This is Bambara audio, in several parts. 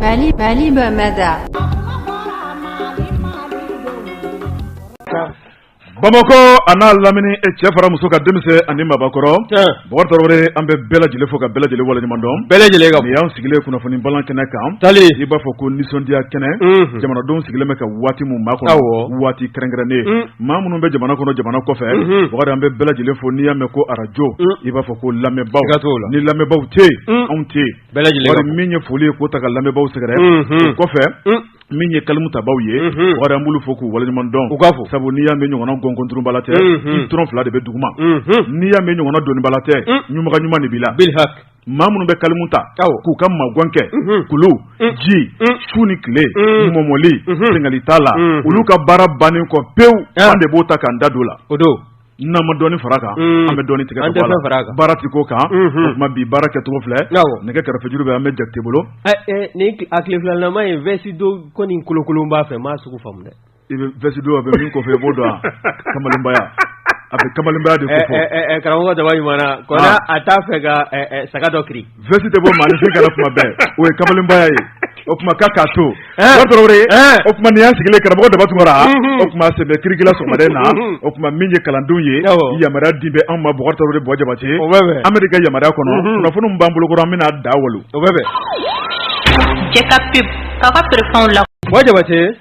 Bali Bali Bamada. Bamakɔ an'a lamini e cɛ fara muso kan denmisɛn ani maabakɔrɔ Bɔkari Tarawele an bɛ bɛɛ lajɛlen fo ka bɛɛ lajɛlen waleɲuman dɔn bɛɛ lajɛlen ka yan sigilen kunnafoni bamanan kɛnɛ kan taalen i b'a fɔ ko nisɔndiya kɛnɛ jamanadenw sigilen bɛ ka waati min makɔnɔ waati kɛrɛnkɛrɛnnen maa minnu bɛ jamana kɔnɔ jamana kɔfɛ Bɔkari an bɛ bɛɛ lajɛlen fo n'i y'a mɛn ko arajo i b'a fɔ ko lamɛnbaw ni lamɛnbaw tɛ anw tɛ min ye foli ye k'o ta ka lamɛnbaw sɛgɛrɛ o kɔfɛ min ye kalimutabaaw ye Bɔkari an b'olu fo k'u waleɲuman dɔn u k'a fɔ sabu n'i y'a mɛn ɲɔgɔn gɔnkunurunba la tɛ i toron fila de bɛ dugu ma n'i y'a mɛn ɲɔgɔn doniba la tɛ ɲunbaga ɲuman de b'i la maa minnu bɛ kalimu ta k'u ka magan kɛ kulu ji su ni tile mɔmɔli sengali t'a la olu ka baara bannen kɔ pewu an de b'o ta k'an da don a la o don n'an ma dɔni fara a kan an bɛ dɔni tigɛ baara tɛ ko kan tuma bi baara kɛcogo filɛ nɛgɛ karafejuru bɛ an bɛ Jakite bolo ni a tilelama in vsi don kɔni kolokolon b'a fɛ maa sugu faamu dɛ I bɛ vsi don a bɛ min kɔfɛ i b'o dɔn kamalenbaya a bɛ kamalenbaya de karamɔgɔ daba ɲuman ko a t'a fɛ ka saga dɔ kiri vsi tɛ bɔ maa si kana kuma bɛɛ o ye kamalenbaya ye o tuma ka ka to o tuma nin y' sigilen karamɔgɔ daba tuma o tuma se kirikila sɔgɔma na o tuma min ye kalandenw ye yamaruya di bɛ anw ma bɔ de bɔ jabati anri ka yama kɔnɔ kunnafoni b'an bolo an bɛna da wolo o bɛ bɛn ka ka la jabate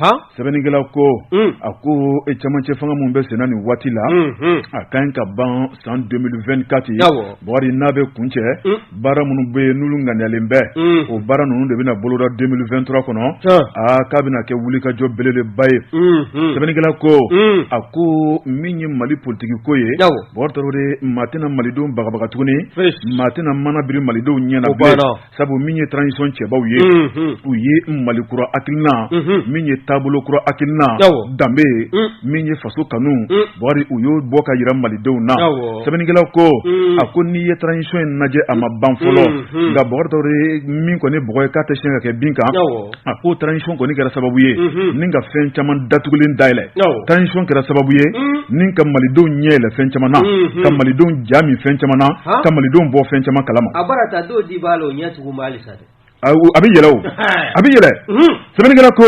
han, sɛbɛnnikɛla ko, un, a ko cɛmancɛ fanga minnu bɛ senna nin waati la, unhun, a ka ɲi ka ban san 2024, awɔ, Bukari n'a bɛ kuncɛ, un, baara minnu bɛ yen n'olu ŋaniyalen bɛ, un, o baara ninnu de bɛna boloda 2023 kɔnɔ, han, a k'a bɛna kɛ wulikajɔ belebeleba ye, unhun, sɛbɛnnikɛla ko, un, a ko min ye Mali politiki ko ye, awɔ, Bukari Tarawele, maa tɛna Malidenw bagabaga tuguni, fosi, maa tɛna mana biri Malidenw ɲɛ na o bilen. banna. sabu min ye transition cɛbaw ye, unhun, u ye Mali kura hakilina, unhun, min ye taabolo kura hakilina, awɔ, danbe ye, un, min ye faso kanu, un, Bɔkari u y'o bɔ ka jira Malidenw na, awɔ, sɛbɛnnikɛla ko, un, a ko n'i ye transition in lajɛ a ma ban fɔlɔ, unhun, nka Bɔkari Tarawele min kɔni ye bɔgɔ ye k'a tɛ siɲɛ ka kɛ bin kan, awɔ. A ko transition kɔni kɛra sababu ye ni ka fɛn caman datugulen dayɛlɛ transition kɛra sababu ye ni ka malidenw ɲɛ yɛlɛ fɛn caman na ka malidenw ja min fɛn caman na ka malidenw bɔ fɛn caman kalama a bɛ yɛlɛ a bɛ yɛlɛ sɛbɛnnikɛla ko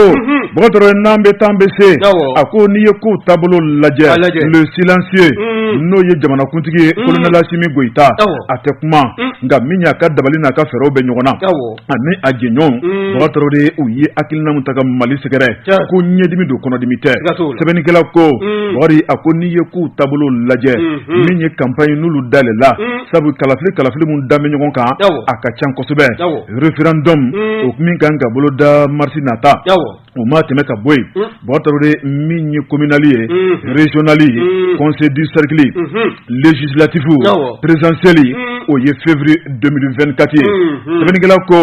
Bɔkari Tarawele n'an bɛ taa an bɛ se a ko n'i ye kow taabolo lajɛ le silencieux n'o ye jamanakuntigi ye kolonɛli Asimi Goyita a tɛ kuma nka min y'a ka dabali n'a ka fɛɛrɛw bɛ ɲɔgɔn na ani a jɛɲɔgɔnw Unn Bakari Tarawele u ye hakilina min ta ka Mali sɛgɛrɛ Tiɲɛ ko ɲɛdimi don kɔnɔdimi tɛ siga t'o la sɛbɛnnikɛla ko Unn Bakari a ko n'i ye kow taabolo lajɛ Unhun min ye campagne n'olu dayɛlɛla Unn sabu kalafili kalafili min da bɛ ɲɔgɔn kan awɔ a ka can kosɛbɛ awɔ referendum Unn o min ka kan ka boloda mars nata awɔ O mana tɛmɛ ka bɔ yen Bakari min ye communal ye régional conseil de cercle législatif présidentielle o ye février 2024 ye sɛbɛnnikɛla ko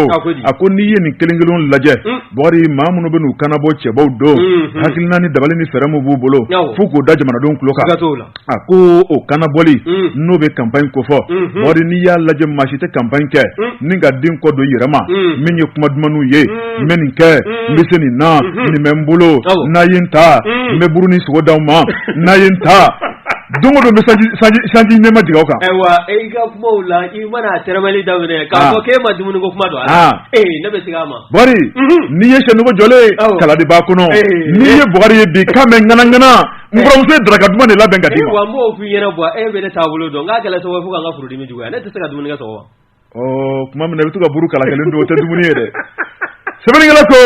a ko n'i ye nin kelen kelen lajɛ bakari maa minnu bɛ u kanabɔ cɛbaw don hakilina ni dabali ni fɛɛrɛ min b'u bolo fo k'o da jamanadenw tulo kan A ko o kanabɔli n'o bɛ campagne kofɔ Bakari n'i y'a lajɛ maa si tɛ campagne kɛ nin ka den kɔ don yɛrɛ ma min ye kuma dumanw ye n bɛ nin kɛ n bɛ se nin na nin bɛ n bolo n'i ye n ta n bɛ buru ni sogo d'aw ma n'i ye n ta don don bɛ sanji nɛɛma jigi kan ayiwa e ka kuma la i mana da k'a ko e ma dumuni ko kuma don ne bɛ ma n'i ye sɛnɛdugu jɔlen kala de b'a kɔnɔ n'i ye Bakari ye bi ka mɛn ŋanaŋana Muso ye daraka duman de labɛn ka di wa mɔgɔw f'i yɛrɛ bɔ e bɛ ne taabolo dɔn n'a gɛlɛn sababu fo' ka furudimi juguya ne tɛ se ka dumuni sɔrɔ wa tuma min i bɛ to ka buru kala kelen dun o tɛ dumuni ye dɛ sɛbɛnnikɛla ko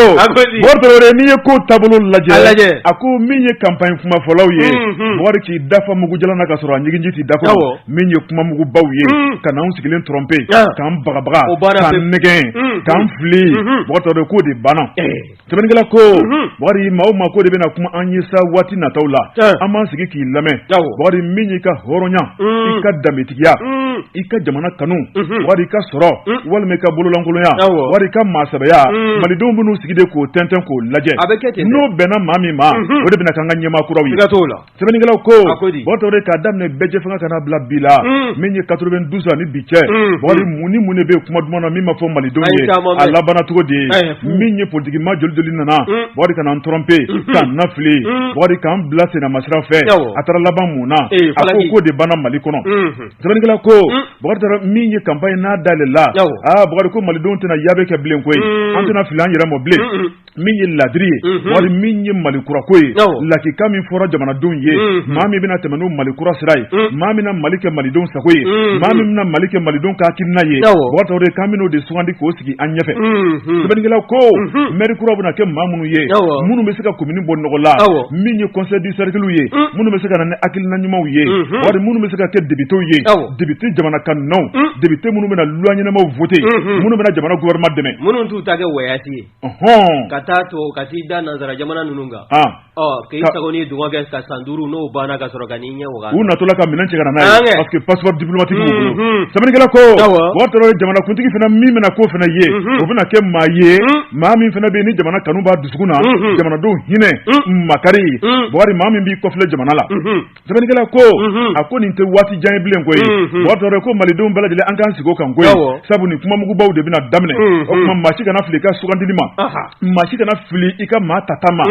Bakari n'i ye ko taabolo lajɛ lajɛ a ko min ye campagne kumafɔlaw ye Bakari k'i da fa mugu jalan na ka sɔrɔ a ɲiginji t'i da min ye kuma mugubaw ye ka n'an sigilen tromper k'an bagabaga k'an nɛgɛn k'an fili Bakari k'o de banna Sɛbɛnnikɛla ko, unhun, Bakari maa o maa ko de bɛna kuma an ye sa waati nataw la, tiɲɛ, an b'an sigi k'i lamɛn, awɔ, Bakari min y'i ka hɔrɔnya, un, i ka danbetigiya, un, i ka jamana kanu, unhun, Bakari i ka sɔrɔ, un, walima i ka bololankolonya, awɔ, Bakari i ka maasɛbɛya, un, Malidenw bɛn'u sigi de k'o tɛntɛn k'o lajɛ, a bɛ kɛ ten, n'o bɛnna maa min ma, unhun, o de bɛna k'an ka ɲɛmaa kuraw ye, siga t'o la. sɛbɛnnikɛla ko a ko di Bakari Tarawele k'a daminɛ bɛɛjɛfanga ka na bila bi la mm. min ye 92 ani bi cɛ mm. Bakari mm. mun ni mun de bɛ yen kuma duman na min ma fɔ malidenw ye a labanna cogo di min ye politikimaa joli joli nana Bakari ka n'an tromper mm-hmm. k'an nafili Bakari k'an bila sennamasira fɛ a taara laban mun na eh, a ko k'o de banna mali kɔnɔ mm-hmm. sɛbɛnnikɛla ko bakari taara min ye campagne n'a dayɛlɛla aa bakari ko malidenw tɛna yaabe kɛ bilen koyi an tɛna fili an yɛrɛ mɔ bilen min ye ladiri ye Bakari min ye mali kurako ye lakika min fɔra jamanadenw ye maa min bɛna tɛmɛ n'o mali kura sira ye maa min mali kɛ malidenw sago ye maa min bɛna mali kɛ malidenw hakilina ye Bakari Tarawele ka min de sugandi k'o sigi an ɲɛfɛ sɛbɛnnikɛla ko mɛri kura bɛna kɛ maa minnu ye minnu bɛ se ka komini bɔ nɔgɔ la min ye conseil de cerclew ye minnu bɛ se ka na ni hakilina ɲumanw ye Bakari minnu bɛ se ka kɛ depitew ye depite jamana kanunaw depite minnu bɛna loi ɲɛnamaw voter minnu bɛna jamana gouvernement dɛmɛ minnu t'u ta kɛ wsi ye ka taa to ka t'i da nansara jamana ninnu kan k'i ta ni dɔgɔ kɛ ka san duuru n'o banna ka sɔrɔ ka n'i ɲɛ u natɔla ka minɛn cɛ ka na parce que passeport diplomatique sɛbɛnnikɛla ko o jamanakuntigi fana min bɛna ko fana ye o bɛna kɛ maa ye maa min fana bɛ ni jamana kanu b'a dusukun na jamanadenw hinɛ makari wa a tɛ maa min b'i kɔfilɛ jamana la Sɛbɛnnikɛla ko a ko nin tɛ waati jan ye bilen koyi tɔɔrɔ ko malidenw bɛɛ lajɛlen an ka sigi kan koyi sabu nin kuma mugubaw de bɛna daminɛ o tuma maa si kana fili i ka sugandili ma maa si kana fili i ka maa tata ma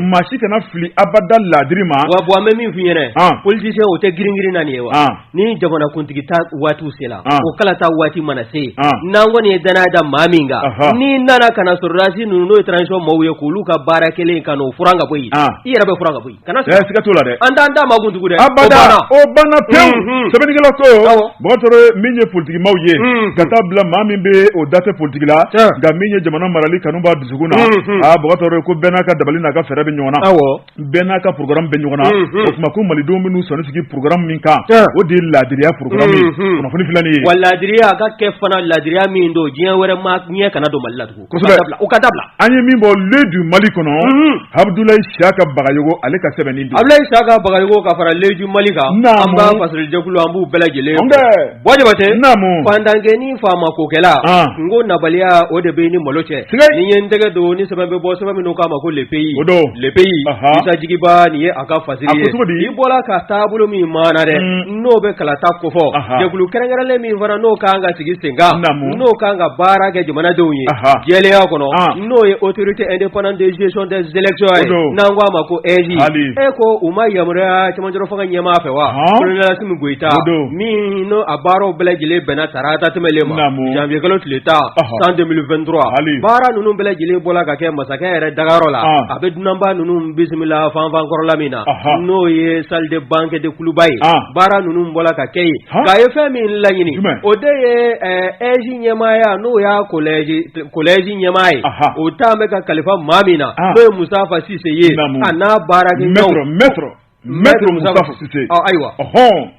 maa si kana fili abada laadiri ma wa bɔn an bɛ min f ɲɛna parce que o tɛ grinrin naani ye wa ni jamanakuntigi ta waati sen o kalata waati mana se n'an kɔni ye dannaya da maa min kan n'i nana ka sɔrɔdasi ninnu n'o transition maaw ye k'olu ka baara kɛlen ka o f ka bɔ i yɛrɛ bɛ f ka bɔ kana sig'a la, siga t'o la dɛ, an t'an da maa kun tugun dɛ, abada, o banna pewu, unhun, sɛbɛnnikɛla ko, awɔ, Bɔtɔrɔ min ye politikimaaw ye, unhun, ka taa bila maa min bɛ o da tɛ politiki la, tiɲɛ, nka min ye jamana marali kanu b'a dusukun na, unhun, aa Bɔtɔrɔ ko bɛɛ n'a ka dabali n'a ka fɛɛrɛ bɛ ɲɔgɔn na, awɔ, bɛɛ n'a ka programme bɛ ɲɔgɔn na, unhun, o tuma ko malidenw bɛ n'u sɔnni sigi programme min kan, tiɲɛ, o de ye laadiriya programme ye, unhun, kunnafoni filɛ nin ye, wa laadiriya a ka kɛ fana laadiriya min don diɲɛ wɛrɛ ma ɲɛ kana don Mali la tugun. u ka dabila an ye min bɔ L'œil du Mali kɔnɔ Abudulayi Siyaka Bagayogo ale ka sɛbɛn nin Abudulayi Siyaka Bagayogo ka fara L'œil du Mali kan an b'a fasiri jɛkulu an b'u bɛɛ lajɛlen bɔjatɛ fantankɛ ni faama kokɛla kun ko nabaliya o de b'i ni malo cɛ ni ye n tɛgɛ don ni sɛbɛn bɛ bɔ sɛbɛn min n'u k'a ma ko Le Pays Le Pays jigiba nin ye a ka fasiri ye i bɔra ka taabolo min mana dɛ n'o bɛ kalata kofɔ jɛkulu kɛrɛnkɛrɛnlen min fana n'o ka kan ka sigi sen kan n'o ka kan ka baara kɛ jamanadenw ye jɛlenya kɔnɔ n'o ye autorité indépendante de gestion des élections ye n'an k'a ma ko AIGE ko u ma yamaruya camancɛrɔ fanga ɲɛmaa fɛ wa colonel Asimi Goyita min n'o a baaraw bɛɛ lajɛlen bɛnna tarata tɛmɛlen ma janvier kalo tile tan san 2023 baara ninnu bɛɛ lajɛlen bɔra ka kɛ masakɛ yɛrɛ dagayɔrɔ la a bɛ dunanba ninnu bisimila fanfankɔrɔla min na n'o ye salle de banquet de Kuluba ye baara ninnu bɔra ka kɛ yen nka a ye fɛn min laɲini o de ye AIGE ɲɛmaaya n'o y'a collège collège ɲɛmaa ye o tun bɛ ka kalifa maa min na n'o ye Mustafa Sise ye a n'a baarakɛɲɔɔnw ayiwa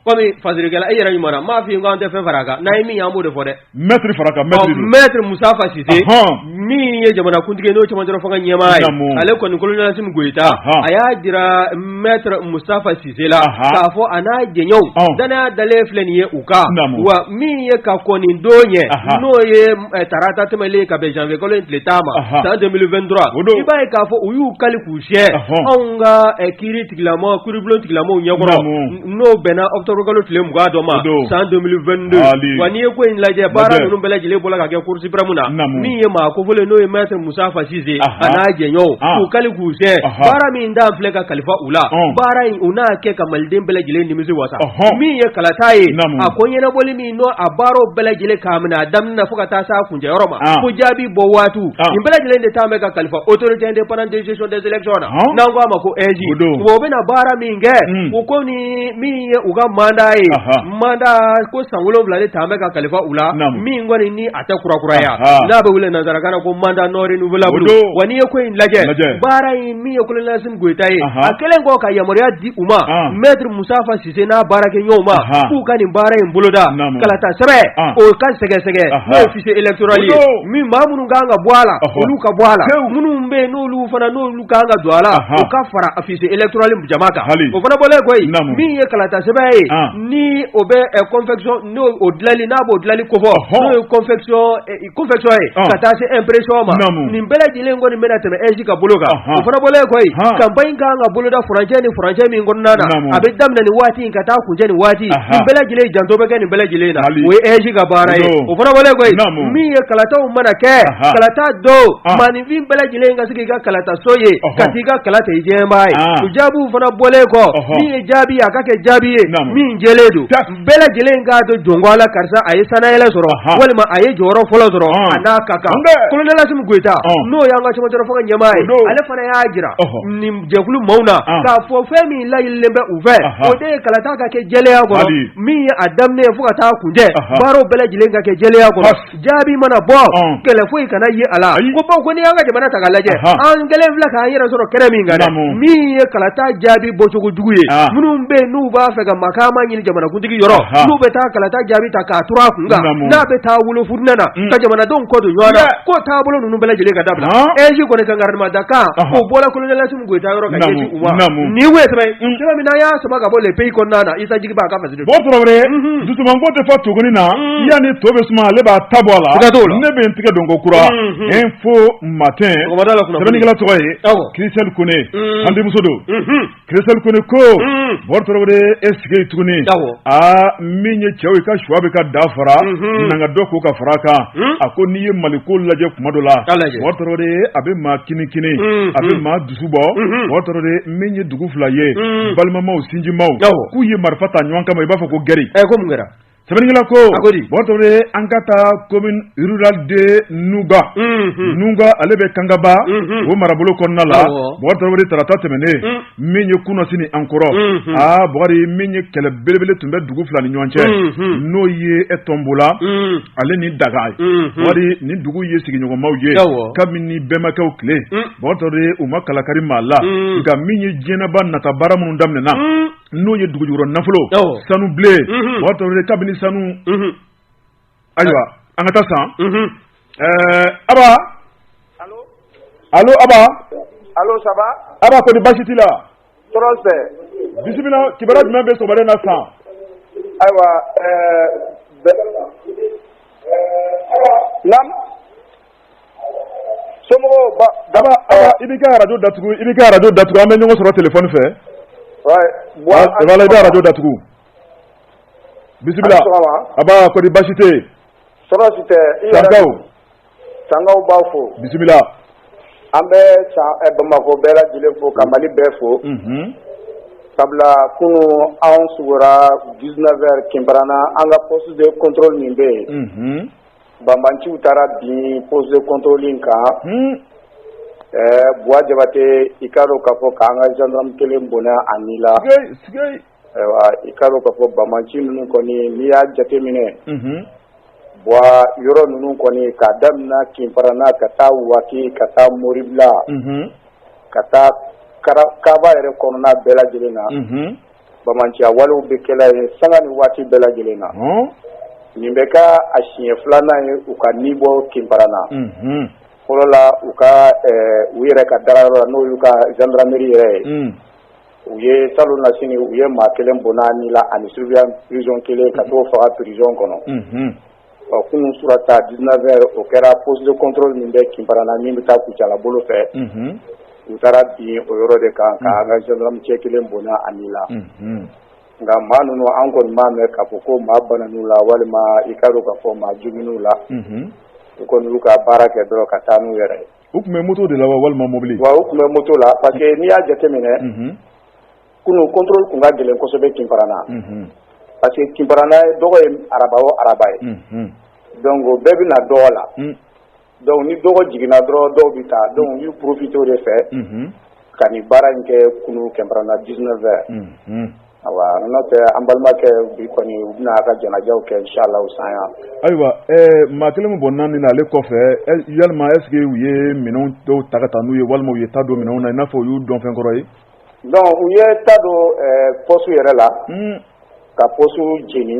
comme fasirikɛla e yɛrɛ ɲuman m'a fɔ i ko an tɛ fɛn fara a kan n'a ye min ye an b'o de fɔ dɛ Maitre fara a kan maitre don, ɔ maitre Mustafa Sise, ɔnhɔn, min ye jamanakuntigi ye n'o ye cɛmancɛla fanga ɲɛmaa ye, naamu, ale kɔni colonel Asimi Goyita, ɔnhɔn, a y'a jira maitre Mustafa Sise la, anhan, k'a fɔ a n'a jɛɲɔɔnw, ɔn, dannaya dalen filɛ nin ye u kan, naamu, wa min ye ka kɔn nin don ɲɛ, anhan, n'o ye tarata tɛmɛlen ye ka bɛn janvier kalo in tile tan ma, anhan, san 2023, o don, i b'a ye k'a fɔ u y'u kali k'u siɲɛ, ɔnhɔn, anw ka kiiri tigilamɔgɔ, kiiribulon tigilamɔgɔw ɲɛkɔrɔ, naamu. N'o bɛnna octobre kalo tile 22 dɔ ma, o don, san 2022, haali, wa n'i ye ko in lajɛ, lajɛ baara ninnu bɛɛ lajɛlen bɔra ka kɛ cour suprême na, naamu, min ye maa kofɔlen n'o ye Maître Moustapha Cissé, anhan, a n'a jɛɲɔgɔnw, an, k'u kali k'u siɲɛ, anhan, baara min dan filɛ ka kalifa u la, ɔn, baara in u n'a kɛ ka Maliden bɛɛ lajɛlen nimisi wasa, ɔnhɔn, min ye kalata ye, naamu, a ko ɲɛnabɔli min n'o a baaraw bɛɛ lajɛlen k'a minɛ a daminɛ fo ka taa s'a kuncɛ yɔrɔ ma ɔn fo jaabi bɔ waatiw ɔn nin bɛɛ lajɛlen de taa bɛ ka kalifa autorité indépendante de gestion des élections na ɔn n'an ko a ma ko AIGE O don. wa u bɛna baara min kɛ Mm. u ko ni min ye u ka mandat ye Aha. mandat ko san wolonwula de taa bɛ ka kalifa u la Naamu. min kɔni ni a tɛ kurakuraya Aha. n'a bɛ wele nansarakan na ko mandat non renouvelable O don. wa n'i ye ko in lajɛ Lajɛ. baara in min ye colonel Assimi Goïta ye Aha. a kɛlen kɔ ka yamaruya di u ma Ɔn. maître Moustapha Ci ssé n'a baarakɛɲɔgɔnw ma k'u ka nin baara in boloda kalata sɛbɛ o ka sɛgɛsɛgɛ n'o fichier électoral ye min ma minnu kan ka bɔ a la olu ka bɔ a la minnu bɛ n'olu fana n'olu kan ka don a la u ka fara fichier électoral jama kan hali o fana bɔlen kɔ min ye kalata sɛbɛ ye ni o bɛ confection n'o dilanli n'a b'o dilanli kofɔ n'o ye Confection ye ka taa se impression ma nin bɛɛ lajɛlen kɔni nin bɛna tɛmɛ AIGE ka bolo kan o fana bɔlen kɔ campagne kan ka boloda furancɛ ni furancɛ min kɔnɔna na a bɛ daminɛ ni waati in ka taa kuncɛ ni waati nin bɛɛ lajɛlen janto bɛ kɛ nin bɛɛ lajɛlen na o ye AIGE ka baara ye o fana bɔlen kɔ min ye kalataw mana kɛ kalata don maaninfin bɛɛ lajɛlen ka se k'i ka kalata so ye ka se k'i ka kalata jɛba ye u jaabiw fana bɔlen kɔ min ye jaabi a ka kɛ jaabi ye min jɛlen don bɛɛ lajɛlen k'a dɔn jɔn ko Ala karisa a ye sannayɛlɛ sɔrɔ walima a ye jɔyɔrɔ fɔlɔ sɔrɔ a n'a ka kan colonel Assimi Goïta n'o y'an ka camancɛ fanga ɲɛmaa ye ale fana y'a jira nin jɛkulu maaw na k'a fɔ fɛn min laɲinilen bɛ u fɛ o de ye kalata ka kɛ jɛlenya kɔnɔ min ye a daminɛ fo ka taa kuncɛ baaraw bɛɛ lajɛlen ka kɛ jɛlenya kɔnɔ Jaabi mana bɔ gɛlɛya foyi kana ye a la ko bawo n' an ka jamana ta lajɛ an kɛlen filɛ k'an yɛrɛ sɔrɔ kɛnɛ min kan min ye kalata jaabi bɔcogojugu ye minnu bɛ n'u b'a fɛ ka makama ɲini jamanakuntigi yɔrɔ n'u bɛ taa kalata jaabi ta k'a turu a kun kan n'a bɛ taa wolo fitinɛ na ka jamanadenw kɔ don ɲɔgɔn na ko taabolo ninnu bɛɛ lajɛlen ka dabila AIGE kɔni ka garan ɲuman da a kan o bɔra colonel Assimi Goïta yɔrɔ ka nin min n'an y'a sama ka bɔ Le Pays kɔnɔna na Issa Djiguiba Bo tarawele dusumango tɛ fa to gonin na yani to bɛ suma ale b'a ta bɔ a la ne bɛ n tigɛ don ko kura Info Matin nin kɛla tɔgɔ ye Christelle Koné an denmuso don Christelle Koné ko bo tarawele i sigi tuguni aa min ye cɛw ye ka suwa bɛ ka da fara nana dɔ k'u ka fara kan a ko n'i ye mali ko lajɛ kuma dɔ la bo tarawele a bɛ maa kinikini a bɛ dusu bɔ o tɔɔrɔ de min ye dugu fila ye balimamaw sinjimaw k'u ye marifa ta ɲɔgɔn kama i b'a fɔ ko gri ɛ ko kɛra sɛbɛnkɛla ko mɔtɔ an ka taa commune rurale de Nuga Nuga ale bɛ kangaba o marabolo kɔnɔna la mɔgɔta tarata tɛmɛnen min ye kunasini an kɔrɔ aa bri min ye kɛlɛ belebele tun bɛ dugu fila ni ɲɔgɔn cɛ n'o ye e Tɔnbola ale ni Danga wari ni dugu ye sigiɲɔgɔnmaw ye kabini bɛnbakɛw tile Mɔgɔ de u ma kalakari maa la nka min ye diɲɛba nata baara minnu daminɛna n'o ye dugujukɔrɔ nafolo sanu bilen mɔgɔ kabini sanu ayiwa an ka taa san Aba allô allô Aba allô San Aba Aba ko di baasi tɛ la tɔɔrɔ tɛ bisimila kibaru jumɛn bɛ sɔgɔma na san ayiwa so daba i b'i ka arajo datugu i b'i ka arajo datugu an bɛ ɲɔgɔn sɔrɔ telefɔni fɛ i b'arajo datugu bisimila Aba ko di baasi tɛ sankaw b'a fo bisimila an bɛ san ɛ bamakɔ bɛɛ lajɛlen fo ka mali bɛɛ fo sabula kunun anw su kora 19 heures Kinparana an ka poste de contrôle min bɛ yen banbanciw taara bin poste de contrôle in kan ɛɛ buwa jabate i k'a dɔn k'a fɔ k'an ka gendarme kelen bɔnɛ a ni la Ayiwa i k'a dɔn k'a fɔ banbanci ninnu kɔni n'i y'a jateminɛ yɔrɔ ninnu kɔni ka daminɛ Kinparana ka taa Waki ka taa moribila ka taa kaba yɛrɛ kɔnɔna bɛɛ lajɛlen na banbanciya walew bɛ kɛla yen sanga ni waati bɛɛ lajɛlen na nin bɛ kɛ a siɲɛ filanan ye u ka ni bɔ Kinparana fɔlɔla u ka u yɛrɛ ka dagayɔrɔ n'o y'u ka gendarmerie yɛrɛ ye u ye salonnasini u ye maa kelen bɔnɛ a ni la ani surveillant prison kelen ka t'o faga prison kɔnɔ ɔ kunun sura ta 19 heures o kɛra poste de contrôle min bɛ Kinparana min bɛ taa Kucala bolo fɛ u taara bin o yɔrɔ de kan ka an ka gendarmecɛ kelen bɔnɛ a ni la nka maa ninnu an kɔni m'a mɛn k'a fɔ ko maa banna u la walima i k'a dɔn k'a fɔ ko maa joginna u la u kɔni y'u ka baara kɛ dɔrɔn ka taa n'u yɛrɛ ye u tun bɛ moto de la wa walima mobili wa u tun bɛ moto la parce que n'i y'a jateminɛ kunun contrôle tun ka gɛlɛn kosɛbɛ Kinparana parce que Kinparana dɔgɔ ye araba o araba ye donc o bɛɛ bɛ na dɔgɔ la donc ni dɔgɔ jiginna dɔrɔn dɔw bɛ taa donc u y'u profiter o de fɛ ka nin baara in kɛ kunun Kinparana 19 heures Ayiwa n'o tɛ an balimakɛ bi kɔni u bɛna a ka janajaw kɛ inchallah san yan ayiwa maa kelen bɔnen nin na ale kɔfɛ yalilima eseke u ye minɛn dɔw ta ka taa n'u ye walima u ye ta don minnu na n'a fɔ u y'u dɔnfɛnkɔrɔ ye dɔnku u ye ta don pɔsu yɛrɛ la ka pɔsu jeni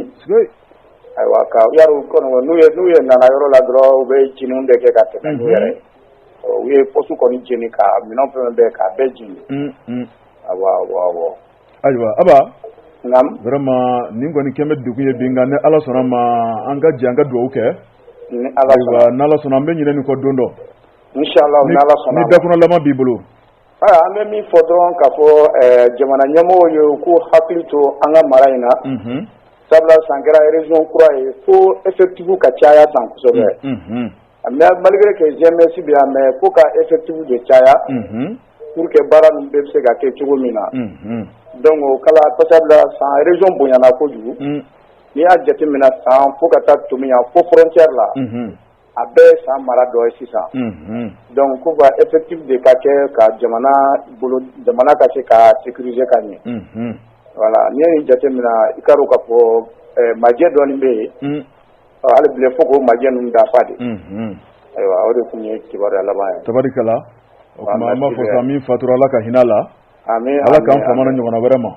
ayiwa ka ya kɔnɔ n'u ye n'u ye nana yɔrɔ la dɔrɔn u bɛ jeni de kɛ ka tɛmɛ n'u yɛrɛ u ye pɔsu kɔni jeni ka minɛn fɛn bɛɛ k'a bɛɛ jeni ayiwa Ayiwa a vraiment nin kɔni kɛnen bɛ dugu ye bi ni ala sɔnna ma an ka jɛ an ka dugawu kɛ ala sɔnna an bɛ ɲinɛ nin kɔ don dɔ bɛɛ b'i bolo an bɛ min fɔ dɔrɔn ka fɔ jamana ɲɛmɔgɔ ye u k'u hakili to an ka mara in na sabula san kɛra région kura ye ko effectif ka caya san kosɛbɛ A mais malgré que GMS bɛ yan mais fo ka effectif de caya pour que baara min bɛ bɛ se ka kɛ cogo min na dɔnku kala kɔ sabula san région bonyana kojugu n'i y'a jateminɛ san fo ka taa Tominian fo frontière la a bɛɛ san mara dɔ ye sisan dɔnku ko ka effectif de ka kɛ ka jamana jamana ka se ka sécurisé ka ɲɛ voilà n'i y'a jateminɛ i ka ka fɔ majɛ dɔ bɛ yen Ɔ hali bi fo ko majɛ ninnu dafa de ayiwa o de tun ye kibaru laban ye abarika la o an b'a fɔ min fatura ala ka hinɛ la ala k'an fa ɲɔgɔn wɛrɛ ma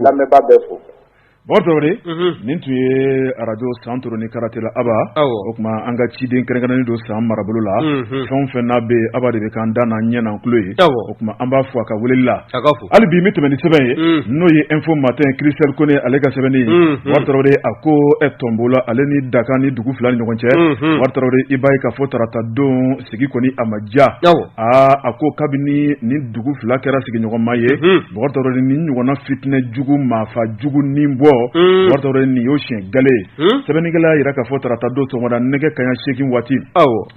lamɛnba bɛ fo ba nin tun ye arajo Santoro ni Karantela aba o tuma an ka ciden kɛrɛnnen don san marabolo la fɛn fɛn n'a bɛ aba de bɛ k'an da n'an ɲɛ n'an tulo ye tuma an b'a fo a ka weleli la hali bi bɛ tɛmɛ ni sɛbɛn ye n'o ye Info Matin Christelle Kone ale ka sɛbɛnni ye a ko e tɔnonbaw ale ni dakan ni dugu fila ni ɲɔgɔn cɛ i b'a ye k'a fɔ tarata don sigi kɔni a ma diya aa a ko kabini ni dugu fila kɛra sigiɲɔgɔnma ye ni ɲɔgɔnna fitinɛ jugu maafa jugu ni bɔ nin y'o siɲɛ gale ye sɛbɛnnikɛla y'a jira k'a fɔ tarata don sɔgɔmada nɛgɛ kanɲɛ seegin waati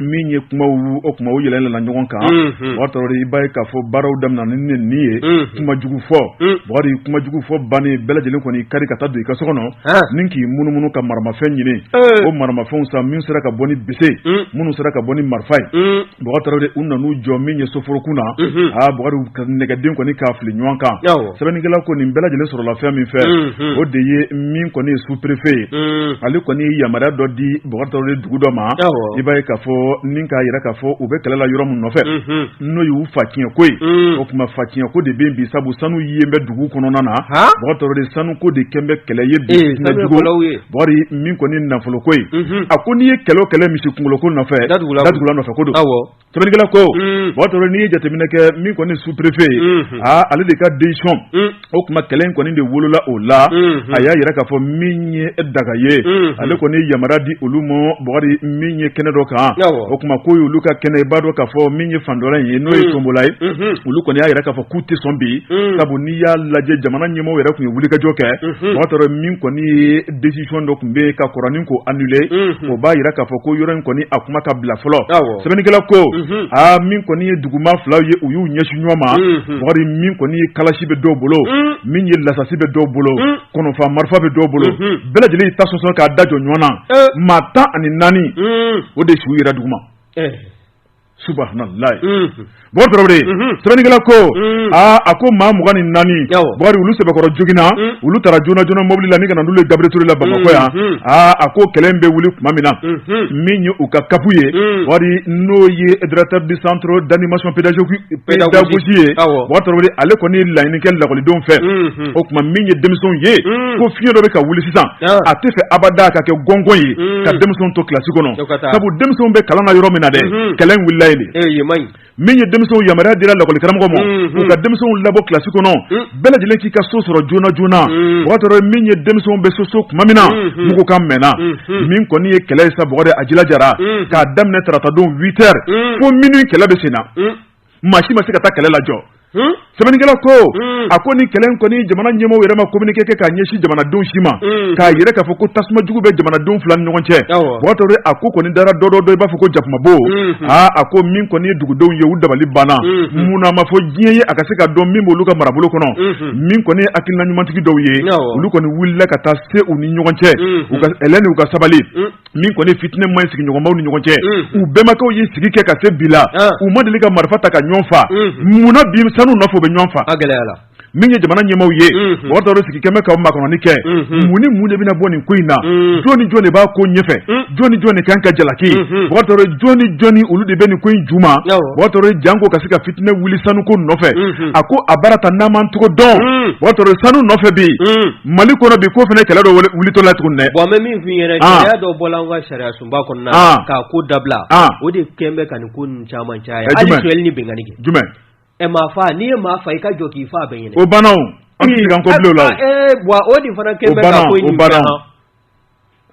min ye kuma o tuma u yɛlɛmana ɲɔgɔn kan i b'a ye k'a fɔ baaraw daminɛ ni neni ye kuma jugu fɔ kuma jugu fɔ bannen bɛɛ lajɛlen kɔni kari ka taa don i ka so kɔnɔ ni k'i munumunu ka maramafɛn ɲini o maramafɛnw sa min sera ka bɔ ni bese ye minnu sera ka bɔ ni marifa ye de u nana u jɔ min ye soforokun na aa nɛgɛden kɔni k'a fili ɲɔgɔn kan sɛbɛnnikɛla ko nin bɛɛ lajɛlen sɔrɔla fɛn min fɛ o de ye min kɔni ye sous-préfet ye ale kɔni ye yamaruya dɔ di de dugu dɔ ma i b'a ye k'a fɔ ni k'a jira k'a fɔ u bɛ kɛlɛ la yɔrɔ min nɔfɛ n'o y'u fa tiɲɛ ko ye o tuma fa tiɲɛ ko de bɛ bi sabu sanu ye bɛ dugu kɔnɔna na de sanuko de kɛnen bɛ kɛlɛ ye Bukari min kɔni ye nafolo ko ye, unhun, a ko n'i ye kɛlɛ o kɛlɛ misi kunkolo ko nɔfɛ, datugula nɔfɛ ko don, awɔ, Sɛbɛnnikɛla ko, un, Bukari Tarawele n'i ye jateminɛ kɛ min kɔni ye sous prefet ye, unhun, aa ale de ka decision un, o tuma kɛlɛ in kɔni de wolola o la, unhun, a y'a jira k'a fɔ min ye Danga ye, unhun, ale kɔni ye yamaruya di olu ma Bukari min ye kɛnɛ dɔ kan, awɔ, o tuma k'o y'olu ka kɛnɛ ye i b'a dɔn k'a fɔ min ye fan dɔ la in ye n'o ye Tombola ye, unhun, olu kɔni y'a jira k'a fɔ k'u tɛ sɔn bi, un, sabu ni i y'a lajɛ jamana ɲɛmɔgɔ yɛrɛ tun ye wulikajɔ kɛ bakari tarawele min kɔni ye desisɔn dɔ tun bɛ yen ka kɔrɔ nin k'o anule o b'a jira k'a fɔ ko yɔrɔ in kɔni a kuma ka bila fɔlɔ sɛbɛnnikɛla ko aa min kɔni ye duguma fila ye u y'u ɲɛsin ɲɔgɔn ma bakari min kɔni ye kalasi bɛ dɔw bolo min ye lasasi bɛ dɔw bolo kɔnɔfa marifa bɛ dɔw bolo bɛɛ lajɛlen y'i ta sɔsɔ k'a da jɔ ɲɔgɔn na maa tan ani naani o de su yera duguma subahanalayi bakari tarawele sɛbɛnnikɛla ko aa a ko maa mugan ni naani bakari olu sɛbɛkɔrɔ joginna olu taara joona joona mobili la ni ka na n'olu ye gabriel ture la bamakɔ yan aaa a ko kɛlɛ in bɛ wuli tuma min na min ye u ka kapu ye bakari n'o ye directeur du centre d'animation pédagogique ye tarawele ale kɔni ye laɲini kɛ lakɔlidenw fɛ o tuma min ye denmisɛnw ye ko fiɲɛ dɔ bɛ ka wuli sisan a tɛ fɛ abada ka kɛ gɔngɔn ye ka denmisɛnw to kilasi kɔnɔ sabu denmisɛnw bɛ kalan na yɔrɔ min na dɛ kɛlɛ in wulila yen de min ye denmisɛnw yamaruya dira lakɔlikaramɔgɔw ma u ka denmisɛnw labɔ kilasi kɔnɔ bɛɛ lajɛlen k'i ka so sɔrɔ joona joona bakari tarawele min ye denmisɛnw bɛ so sɔrɔ tuma min na mugukan mɛnna min kɔni ye kɛlɛ ye sa a jira jara k'a daminɛ taratadon huit heures fo minuit kɛlɛ bɛ sen na maa si ma se ka taa kɛlɛ lajɔ Hmm? sɛbɛnnikɛla ko hmm. a ko nin kɛlɛ in kɔni jamana ɲɛmɔgɔw yɛrɛ ma communiqué kɛ k'a ɲɛsin jamanadenw si ma hmm. k'a jira k'a fɔ ko tasuma jugu bɛ jamanadenw fila ni ɲɔgɔn cɛ bakari tarawele a ko kɔni dara dɔ dɔ dɔ i b'a fɔ ko jakumabo aa a ko min kɔni ye dugudenw ye u dabali banna munna a ma fɔ diɲɛ ye a ka se ka dɔn min b'olu ka marabolo kɔnɔ min kɔni ye hakilina ɲumantigi dɔw ye olu kɔni wulila ka taa se u ni ɲɔgɔn cɛ u ka ɛlɛn ni u ka sabali min kɔni ye fitinɛ man ɲi sigiɲɔgɔnmaw ni ɲɔgɔn cɛ u bɛnbakɛw ye sigi kɛ ka se bi la u ma deli ka marifa ta ka ɲɔgɔn fa munna bi sanu nɔfɛ u bɛ ɲɔgɔn fa min ye jamana ɲɛmaw ye bakari tarawele sigi kɛlen bɛ ka makɔnɔni kɛ mun ni mun de bɛna bɔ nin ko in na jɔn ni jɔn de b'a ko ɲɛfɛ jɔn ni jɔn de ka kan ka jalaki bakari tarawele jɔn ni jɔn ni olu de bɛ nin ko in ju ma bakari tarawele janko ka se ka fitinɛ wuli sanuko nɔfɛ a ko a baara ta n'an man cogo dɔn mɔgɔ dɔw sanu nɔfɛ bɛ yen Mali kɔnɔ bi ko fana kɛlɛ dɔ wulitɔ la tuguni dɛ, bon an bɛ min f'i ɲɛna, an, gɛlɛya dɔ bɔra an ka sariyasunba kɔnɔna, an, k'a ko dabila, an, o de kɛlen bɛ ka nin ko ninnu caman caya, jumɛn, hali sonyali ni binkanni kɛ, jumɛn, ɛ maa faa, n'i ye maa faa i ka jɔ k'i faa bɛɛ ɲɛna, o banna o, an tɛ segi an kɔ bilen o la o, ee, wa o de fana kɛlen bɛ ka ko in ɲɛ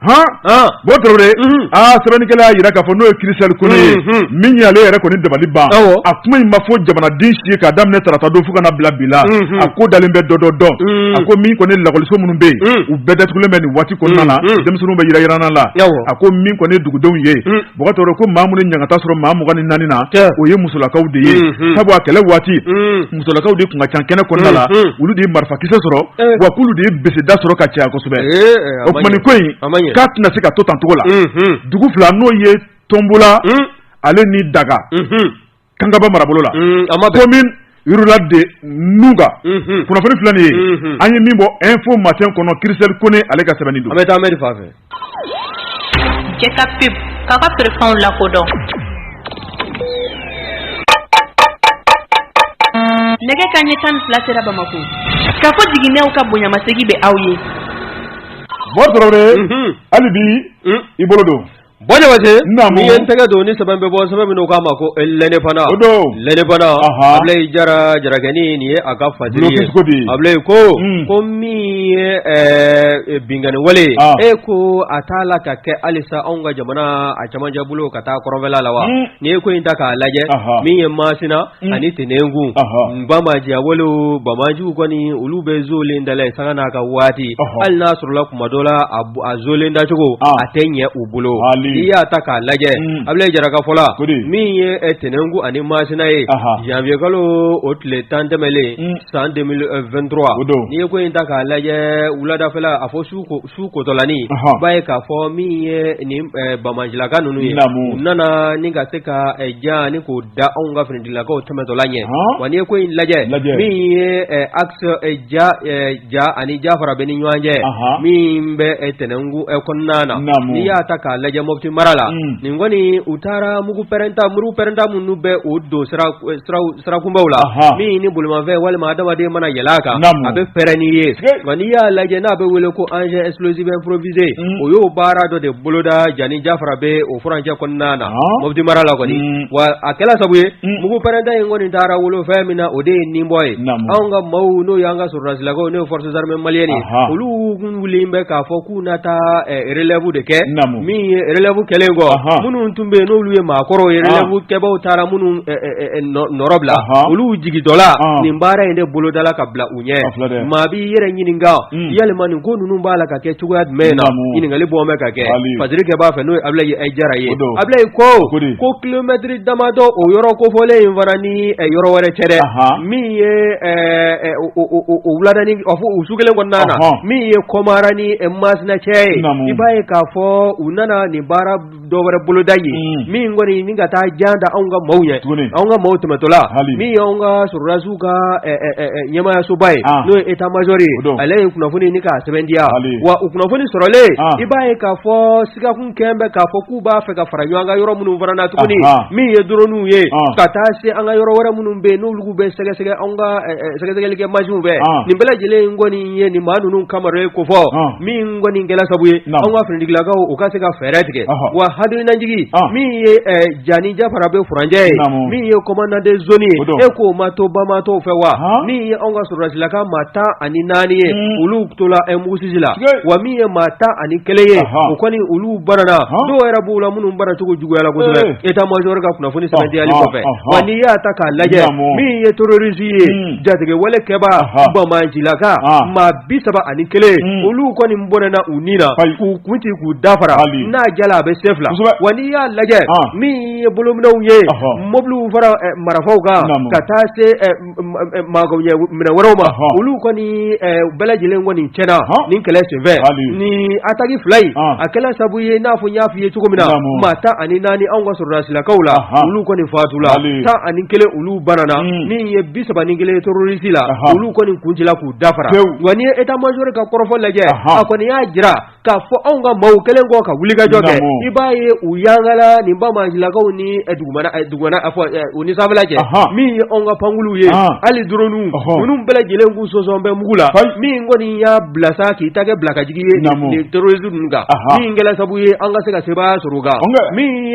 Bo aa sɛbɛnnikɛla y'a jira k'a fɔ n'o ye kirisɛli kɔnɛ ye min ye ale yɛrɛ kɔni dabali banna kuma in ma fɔ jamanaden si ye k'a daminɛ tarata don fo ka na bila bi la a ko dalen bɛ dɔ dɔ dɔn a ko min kɔni lakɔliso minnu bɛ yen u bɛɛ datugulen bɛ nin waati kɔnɔna na denmisɛnw bɛ yɛlɛ jirana la a ko min kɔni dugudenw ye mɔgɔ ko maa minnu ye ɲagata sɔrɔ maa mugan ni naani na o ye musolakaw de ye sabu a kɛlɛ waati musolakaw de tun ka ca kɛnɛ kɔnɔna la olu de ye marifakisɛ sɔrɔ wa k'olu de ye bɛsɛda sɔrɔ ka caya kosɛbɛ o tuma ko in k'a tɛna se ka to tan cogo la dugu fila n'o ye tonbula ale ni daga kankaba marabolo la yla de n ka kunnafoni filanan ye an ye min bɔ info matin kɔnɔ kirisɛli kɔnɛ ale ka sɛbɛn don an bɛ taa anri fa fɛ ka ka tfɛnw lakodɔn nɛgɛ kanɲɛ tan ni fila sera bamakɔ kafo jiginɛw ka bonyamasegin bɛ aw ye mɔgɔ sɔrɔ hali bi i bolo don Ba n'i ye tɛgɛ don ni sɛbɛn bɛ bɔ sɛbɛn min n'u k'a ma ko lɛndepandan lɛndepandan ablayi jara jarakɛ nin ye a ka fasiri ablayi ko ko min ye binkanni wale ye ko a t'a la ka kɛ halisa anw ka jamana a cɛmancɛ bolo ka taa kɔrɔnfɛla la wa n'i ye ko in ta k'a lajɛ min ye masina Mm. ani tɛnɛnkun banbaanci a wale banbaanciw kɔni olu bɛ zoolen dala ye sanga n'a ka waati hali n'a sɔrɔla kuma dɔ la a zoolen dacogo ah. a tɛ ɲɛ u bolo i y'a ta k'a lajɛ mm. ablayi jara ka fɔ la min ye eh, tɛnɛnkun ani masina ye janvier kalo o tile tan tɛmɛlen mm. san 2023 n'i ye ko in ta k'a lajɛ wuladafɛla a fɔ su ko su kotɔla n'i b'a ye k'a fɔ min ye nin banbaancilaka ninnu ye u nana ni ka se ka jan ni k'o da anw ka finitigilakaw tɛmɛtɔla ɲɛ wa n'i ye ko in lajɛ min ye axe ja ani jafarabɛ ni ɲɔgɔn cɛ min bɛ tɛnɛnkun kɔnɔna na n'i y'a ta k'a lajɛ moti mara la nin kɔni u taara mugu pɛrɛnta mugu pɛrɛnta minnu bɛ o don sira sirakunbaw la min ni bolimafɛn walima adamadamaden mana yɛlɛ a kan a bɛ pɛrɛn n'i ye nka n'i y'a lajɛ n'a bɛ wele ko engin explosif improvisé o y'o baara dɔ de boloda ja ni jafarabɛ o furancɛ kɔnɔna na moti mara la kɔni wa a kɛra sabu ye mugu pɛrɛnta in kɔni taara bolifɛn min na o de ye nin bɔ ye anw ka maaw n'o y'an ka sɔrɔdasilakaw n'o forces armées maliennes olu wele bɛ k'a fɔ k'u na taa relɛbu de kɛ min ye relɛbu kɛlen kɔ minnu tun bɛ yen n'olu ye maakɔrɔ ye relɛbukɛbagaw taara minnu nɔɔrɔ bila olu jigintɔla nin baara in de boloda ka bila u ɲɛ maa b'i yɛrɛ ɲininka yalima nin ko ninnu b'a la ka kɛ cogoya jumɛn na ɲininkali bɔ bɛ ka kɛ fakɛ b'a fɛ n'o abulayi jara ye abulayi ko ko kilomɛtiri damadɔ o yɔrɔ kofɔlen in fana ni yɔrɔ wɛrɛ cɛ dɛ min ye wulada fɛ o su kelen kɔnɔna na min ye kumara ni masina cɛ ye i b'a ye k'a fɔ u nana nin baara dɔ wɛrɛ boloda ye min kɔni ni ka taa jan da anw ka maaw ɲɛ anw ka maaw tɛmɛtɔla min ye anw ka sɔrɔdasiw ka ɲɛmaayasoba ye n'o ye etamajɔri ye ale ye kunnafoni nin k'a sɛbɛntiya wa o kunnafoni sɔrɔlen i b'a ye k'a fɔ sigakun kɛ bɛ k'a fɔ k'u b'a fɛ ka fara ɲɔgɔn kan yɔrɔ minnu fana na tuguni min ye dɔrɔniw ye ka taa se an ka yɔrɔ wɛrɛ minnu bɛ yen n'olu bɛ sɛgɛsɛgɛ anw ka sɛgɛsɛgɛli kɛ masinw bɛɛ nin bɛɛ lajɛlen in kɔni ye nin maa ninnu kama ye ko fɔ min kɔni kɛla sabu ye an ka finitigilakaw u ka se ka fɛɛrɛ tigɛ wa hali nin ataki min ye ja ni jafarabɛ furancɛ ye min ye kɔmandan de zoni ye e k'o ma to banbaatɔ fɛ wa min ye an ka sɔrɔdasilaka maa tan ani naani ye hmm. olu tola mugusisi la wa min ye maa tan ani kelen ye o kɔni olu banana dɔw yɛrɛ b'u la minnu banacogo juguyala kosɛbɛ etamajɔri ka kunnafoni sɛbɛntiyali kɔfɛ wa n'i y'a ta k'a lajɛ min ye terorisi ye hmm. jatigɛwale kɛbaa ɔhɔɔ banbaancilaka ɔɔ maa 30 ani 1 un olu kɔni bɔnɛna u ni na ayi k'u kun ci k'u dafara hali n'a jala a bɛ sen 2 kosɛbɛ wa n'i y'a lajɛ ɔɔ min ye bolominɛw ye ɔhɔɔ mobiliw fara ɛ marafaw kan naamu ka taa se ɛ m m magoɲɛminɛn wɛrɛw ma ɔhɔɔ olu kɔni ɛ bɛɛ lajɛlen kɔni cɛna ɔhɔɔ nin kɛlɛ senfɛ hali ni ataki 2 in ɔɔ a kɛla sabu ye i n'a fɔ n y'a f'i ye cogo min na naamu maa 14 anw ka sɔrɔdasilakaw la ɔhɔɔ olu kɔni faatula hali 11 olu banana min ye bi saba ni kelen terorisi la olu kɔni kun cila k'u dafara wa n'i ye etamajɔri ka kɔrɔfɔ lajɛ a kɔni y'a jira k'a fɔ anw ka maaw kɛlen kɔ ka wulikajɔ kɛ i b'a ye u yangala ni dugumalakaw ni u ni sanfɛla cɛ min ye anw ka pankuluw ye hali dɔrɔniw ninnu bɛɛ lajɛlen k'u sɔsɔlen bɛ mugu la min kɔni y'a bila sa k'i ta kɛ bilakajigi ye terorisi ninnu kan min kɛla sabu ye an ka se ka sebaaya sɔrɔ kan min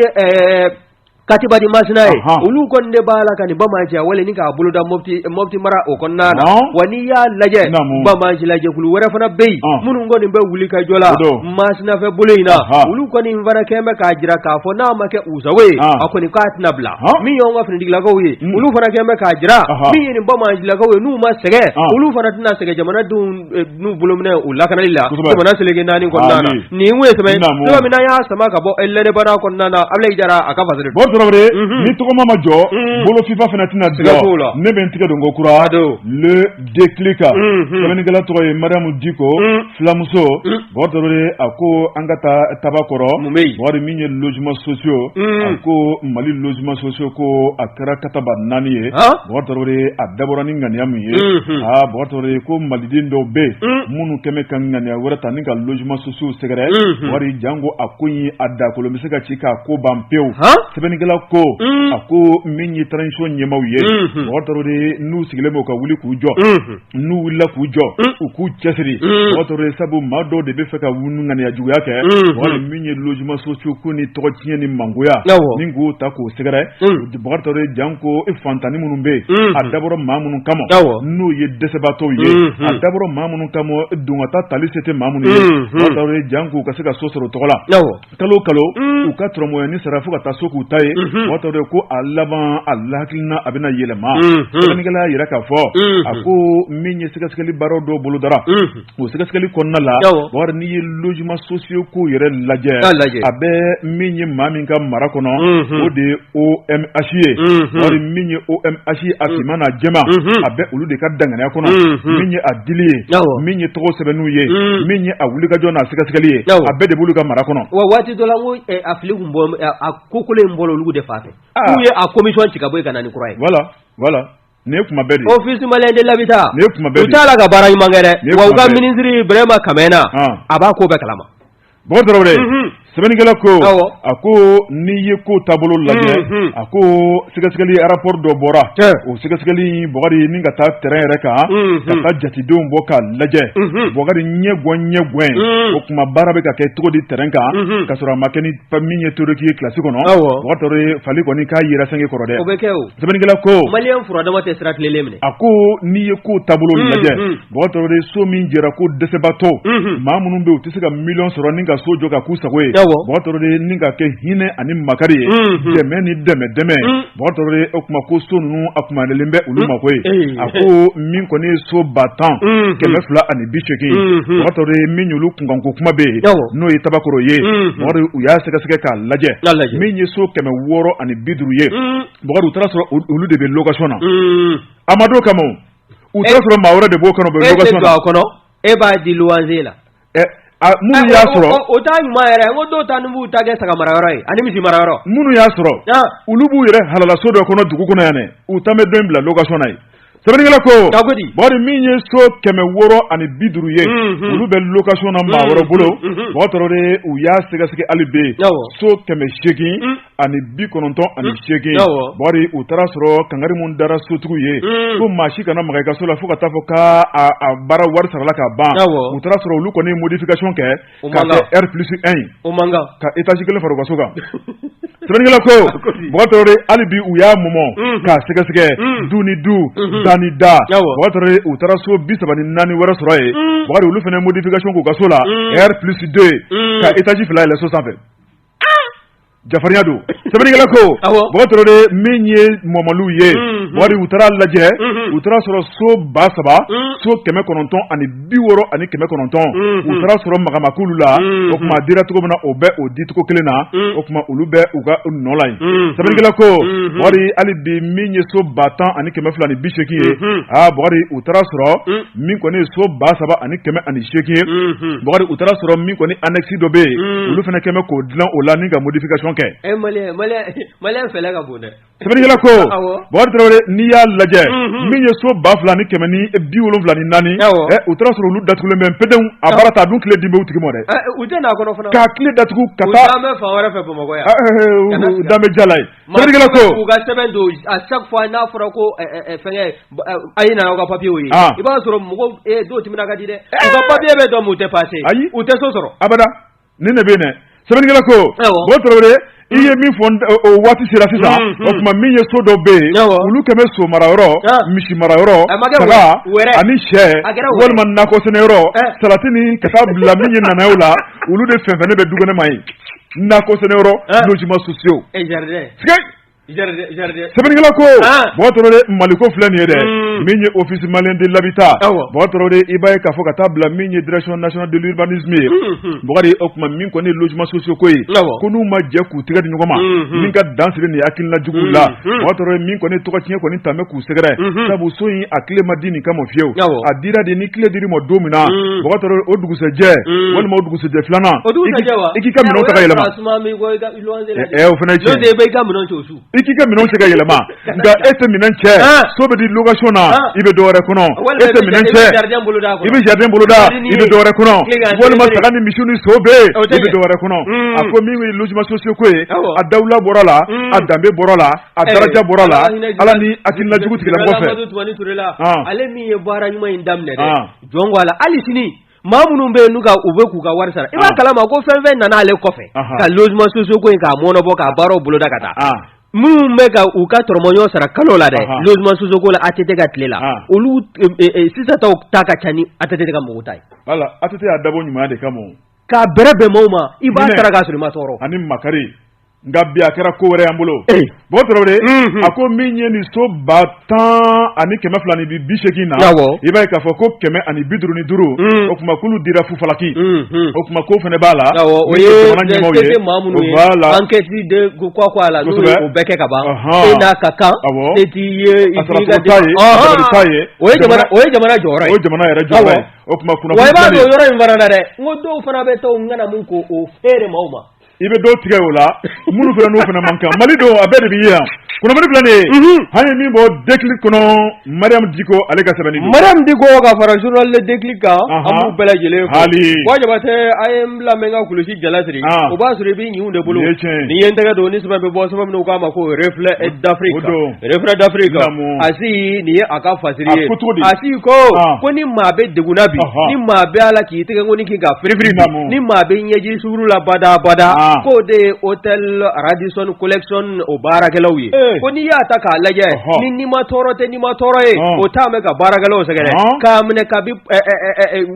katiba di masina ye Ɔhɔn. olu kɔni de b'a la ka nin banbaanciya wale nin k'a boloda mɔpti mɔpti mara o kɔnɔna na Naamu. wa n'i y'a lajɛ Naamu. banbaanci lajɛkulu wɛrɛ fana bɛ yen Ɔn. minnu kɔni bɛ wulikajɔ la O don. masina fɛ bolo in na Ɔhɔn. olu kɔni fana kɛn bɛ k'a jira k'a fɔ n'a ma kɛ u sago ye Ɔn. a kɔni k'a tɛna bila Ɔn. min y'anw ka finitigilakaw ye Mm. olu fana kɛn bɛ k'a jira Ɔhɔn. min ye nin banbaancilakaw ye n'u ma sɛgɛ Ɔn. olu fana tɛna sɛgɛ jamanadenw n'u bolominɛw lakanali la jamana seleke naani kɔnɔna na nin ye saba y'a sama ka bɔ l'indépendant kɔnɔna na abulayi jara a ka fa ni tɔgɔma ma jɔ bolofifa fana tɛna dabila ne bɛ n tɛgɛ don ko kura don le déclic sɛbɛnnikɛla tɔgɔ ye mariamu diko fulamuso Bɔto a ko an ka taa takɔrɔ wari min ye jiman sosiw a ko mali jiman sosiw ko a kɛra kataba naani ye bɔto a dabɔra ni ŋganiya min ye aa bɔto ko maliden dɔw bɛ minnu kɛmɛ ka ŋganiya wɛrɛ tan ni ka jiman sosiww sɛgɛrɛ wari janko a ko ye a dakolo bɛ se ka ci k'a ko ban pewu sɛbɛnnikɛla ko a ko min ye tarawelec ɲɛmaw ye mɔgɔ n'u sigilen bɛ' ka wuli k'u jɔ n'u wulila k'u jɔ u k'u cɛsiri Bɔkari Tarawele sabu maa dɔw de b'a fɛ ka u ŋaniya juguya kɛ wali min ye logements sociaux ko nin tɔgɔ tiɲɛ ni mangoya min k'o ta k'o sɛgɛrɛ Bɔkari Tarawele janko fantannin minnu bɛ yen a dabɔra maa minnu kama n'u ye dɛsɛbaatɔw ye a dabɔra maa minnu kama don kata tali se tɛ maa minnu ye Tarawele janko u ka se ka so sɔrɔ tɔgɔ la kalo kalo u ka dɔrɔmɛnin sara fo ka taa so k'u ta ye Bɔkari Tarawele ko a laban a la hakilina a bɛna yɛlɛma sɛbɛnnikɛla y'a jira k'a fɔ a ko min ye sɛgɛsɛgɛli baara dɔ bolodara o sɛgɛsɛgɛli kɔnɔna la wari n'i ye logements sociaux ko yɛrɛ lajɛ a bɛ min ye maa min ka mara kɔnɔ o de OMH ye wari min ye OMH ye a finman n'a jɛman a bɛ olu de ka danganiya kɔnɔ min ye a dili ye min ye tɔgɔ sɛbɛnni ye min ye a wulikajɔ n'a sɛgɛsɛgɛli ye a bɛɛ de b'olu ka mara kɔnɔ wa waati dɔ la a fili tun bɔ a ko kolo in bolo olu de fan fɛ k'u ye a commission ci ka bɔ yen ka na ni kura ye voilà voilà Nin kuma bɛ office malien de l'habitat u t'a la ka baara ɲuman kɛ dɛ wa ka minisiri Bréhima Kamena a b'a ko bɛɛ kalama Bɔkari Tarawele sɛbɛnnikɛla ko a ko n'i ye ko taabolo lajɛ a ko sɛgɛsɛgɛli rapport dɔ bɔra o sɛgɛsɛgɛli Bɔkari ni ka taa tɛrɛn yɛrɛ kan ka taa jatedenw bɔ ka lajɛ Bɔkari ɲɛ ɲɛ gɛn o tuma baara bɛ ka kɛ cogo di tɛrɛn kan ka sɔrɔ a ma kɛ ni min ye théorique ye kilasi kɔnɔ fali kɔni k'a yɛrɛ san kɔrɔ dɛ Sɛbɛnnikɛla ko malien fura dama tɛ sira tilennen minɛ a ko n'i ye ko taabolo lajɛ Bɔkari Tarawele so min jɔra ko dɛsɛbaatɔ maa minnu bɛ u tɛ se ka million sɔrɔ ni ka so jɔ ka k'u sago ye Bɔkari Tarawele ni ka kɛ hinɛ ani makari ye dɛmɛ ni dɛmɛ dɛmɛ Bɔkari Tarawele o tuma ko so ninnu a kumayalen bɛ olu mako ye a ko min kɔni ye so ba tan kɛmɛ fila ani bi segin min olu kunkan ko kuma bɛ yen n'o ye Tabakɔrɔ ye u y'a sɛgɛsɛgɛ k'a lajɛ min ye so kɛmɛ wɔɔrɔ ani bi duuru ye u taara sɔrɔ olu de bɛ lɔkasɔn na amadu kama u taara sɔrɔ maa wɛrɛ de b'o kɔnɔ kɔnɔ e b'a di luwanse la minnu y'a sɔrɔ u ta ɲuman yɛrɛ ko dɔw taa b'u ta kɛ saga mara yɔrɔ ye ani misi mara yɔrɔ minnu y'a sɔrɔ olu b'u yɛrɛ halala so dɔ kɔnɔ dugu kɔnɔ yan u ta bɛ dɔ in bila lɔkasɔn na Sɛbɛnnikɛla ko, a ko di, Bakari min ye so kɛmɛ wɔɔrɔ ani bi duuru ye, unhun, olu bɛ location na maa wɛrɛ bolo, unhun, Bakari Tarawele u y'a sɛgɛsɛgɛ hali bi, awɔ, so kɛmɛ seegin ani bi kɔnɔntɔn ani seegin, awɔ, Bakari u taara sɔrɔ kangari min dara sotigiw ye, un, ko maa si kana maga i ka so la fo ka taa fɔ k'a a a baara wari sarala k'a ban, awɔ, u taara sɔrɔ olu kɔni ye modification kɛ O man kan, ka kɛ R plus 1 ye, o man kan, ka etage kelen fara u ka so kan, Sɛbɛnnikɛla ko, a ko ten, Bakari Tarawele hali bi u y'a mɔmɔ, unhun, k'a sɛgɛsɛgɛ, un, du ni du, unhun, da ni da, awɔ, Bakari Tarawele u taara so 34 wɛrɛ sɔrɔ yen, un, Bakari olu fana ye modification k'u ka so la, un, R plus 2 un, ka etage fila yɛlɛ so sanfɛ. Jafarinya don sɛbɛnnikɛla ko bakari tarawele min ye mɔmɔli ye bakari u taara lajɛ u taara sɔrɔ so ba saba so kɛmɛ kɔnɔntɔn ani bi wɔɔrɔ ani kɛmɛ kɔnɔntɔn u taara sɔrɔ maga ma k'olu la o tuma dira cogo min na o bɛ o dicogo kelen na o tuma olu bɛ u ka nɔ la sɛbɛnnikɛla ko bakari hali bi min ye so ba tan ani kɛmɛ fila ni bi seegin ye a bakari u taara sɔrɔ min kɔni ye so ba saba ani kɛmɛ ani seegin ye bakari u taara sɔrɔ min kɔni annexe dɔ bɛ yen olu fana kɛmɛ k'o dilan o la ni ka modification kɛ sɛbɛnnikɛla ko bakari tarawele n'i y'a lajɛ min ye so ba fila ni kɛmɛ ni bi wolonwula ni naani u taara sɔrɔ olu datugulen bɛ pd a bara ta dun kile dilen b'u tigi ma dɛ u da tugu ka taa fɛ bamakɔ danbe jala ye Morikɛ ko u ka sɛbɛn don a safa fɔ n'a fɔra ko fɛn a ye na ka papiyew ye i b'a sɔrɔ mɔgɔ don tɛmɛna ka di dɛ papiye bɛ dɔn tɛ pa ayi u tɛ so sɔrɔ a ni ne bɛ sɛbɛnnikɛla ko bakari tarawele i ye min fɔ waati sera sisan o tuma min ye so dɔ bɛ yen olu kɛlen bɛ so mara yɔrɔ misi mara yɔrɔ ani syɛ walima nakɔ sɛnɛ yɔrɔ salati ni ka taa bila min ye nanaye la olu de fɛnsɛnnen bɛ du kɛnɛ ma yen nakɔ sɛnɛ yɔrɔ logement sociaux sɛbɛnnikɛla ko bakari tarawele mali ko filɛ nin ye dɛ min ye office malien de l'habitat bakari tarawele i b'a ye k'a fɔ ka taa bila min ye direction nationale de l'urbanisme ye bakari o tuma min kɔni logement sociaux ko ye ko n'u ma jɛ k'u tɛgɛ di ɲɔgɔn ma min ka dan sigi nin hakilina jugu la bakari tarawele min kɔni tɔgɔtiɲɛ kɔni tɛmɛ bɛ sɛgɛrɛ sabu so in a kile ma di nin kama fiyewu a dira di ni kile dir'i ma don min na o b'a sɔrɔ o dugusɛjɛ walima o dugusɛjɛ filanan i k'i ka minɛn ta ka yɛlɛma ɛ o fana cɛn i k'i ka minɛn cɛ ka yɛlɛma nka e tɛ minɛn cɛ so bɛ di location na i bɛ dɔwɛrɛ kɔnɔ e tɛ minɛn cɛ i bɛ jardin boloda i bɛ dɔwɛrɛ kɔnɔ walima saga ni misi ni so bɛ yen i bɛ dɔwɛrɛ kɔnɔ a ko min ye logement sociaux ko ye a dawula bɔr'a la a danbe bɔr'a la A daraja bɔra la Ala ni hakilina jugu tigila mɔgɔ fɛ, Amadu Tumani Ture la, an, ale min ye baara ɲuman in daminɛ dɛ, an, jɔn ko Ala hali sini maa minnu bɛ yen n'u ka u bɛ k'u ka wari sara i b'a kalama ko fɛn fɛn nana ale kɔfɛ ka logements sociaux ko in k'a mɔɔnɔbɔ k'a baaraw boloda ka taa, an, minnu bɛ ka u ka tɔrɔmɔɲɔn sara kalo la dɛ logements sociaux ko la ATT ka tile la olu sisan taw ta ka ca ni ATT ka mɔgɔw ta ye, wala ATT y'a dabɔ ɲumanya de kama o, k'a bɛrɛbɛn mɔɔw ma i b'a sara k'a sɔrɔ i ma tɔɔrɔ ani makari Nka bi a kɛra ko wɛrɛ an bolo bo tarawele a ko min ye nin so ba tan ani kɛmɛ fila ni bi bi segin na i b'a ye k'a fɔ ko kɛmɛ ani bi duuru ni duuru o tuma k'olu dira fufalaki o tuma ko fana b'a la o ye bɛɛ kɛ ka ban ka kan o ye jamana jɔyɔrɔ o jamana yɛrɛ jɔ o tuma yɔrɔ in fana dɛ n ko dɔw fana bɛ to n kana min ko o feere ma ma i bɛ dɔw tigɛ o la minnu fana n'u fana man kan mali don a bɛɛ de b'i yan kunnafoni filɛ nin ye an ye min bɔ déclic kɔnɔ mariam diko ale ka sɛbɛnni don mariam diko ka fara journal le déclic kan an b'u bɛɛ lajɛlen fo hali wa jabatɛ a ye n bila n bɛ n ka kulusijala siri o b'a sɔrɔ i b'i ɲinw de bolo nin ye tiɲɛ ye nin ye n tɛgɛ don ni sɛbɛn bɛ bɔ sɛbɛn min u k'a ma ko reflet d'Afrique o don reflet d'Afrique a si nin ye a ka fasiri ye a ko cogo di a si ko ko ni maa bɛ degun na bi ni maa bɛ a la k'i tɛgɛkɔnin kin ka firifiri ni maa bɛ ɲɛji tuurula bada bada ko de ye hôtel Radisson Collection o baarakɛlaw ye ko n'i y'a ta k'a lajɛ ni nimatɔɔrɔ tɛ nimatɔɔrɔ ye o de bɛ ka baarakɛlaw sɛgɛn k'a minɛ ka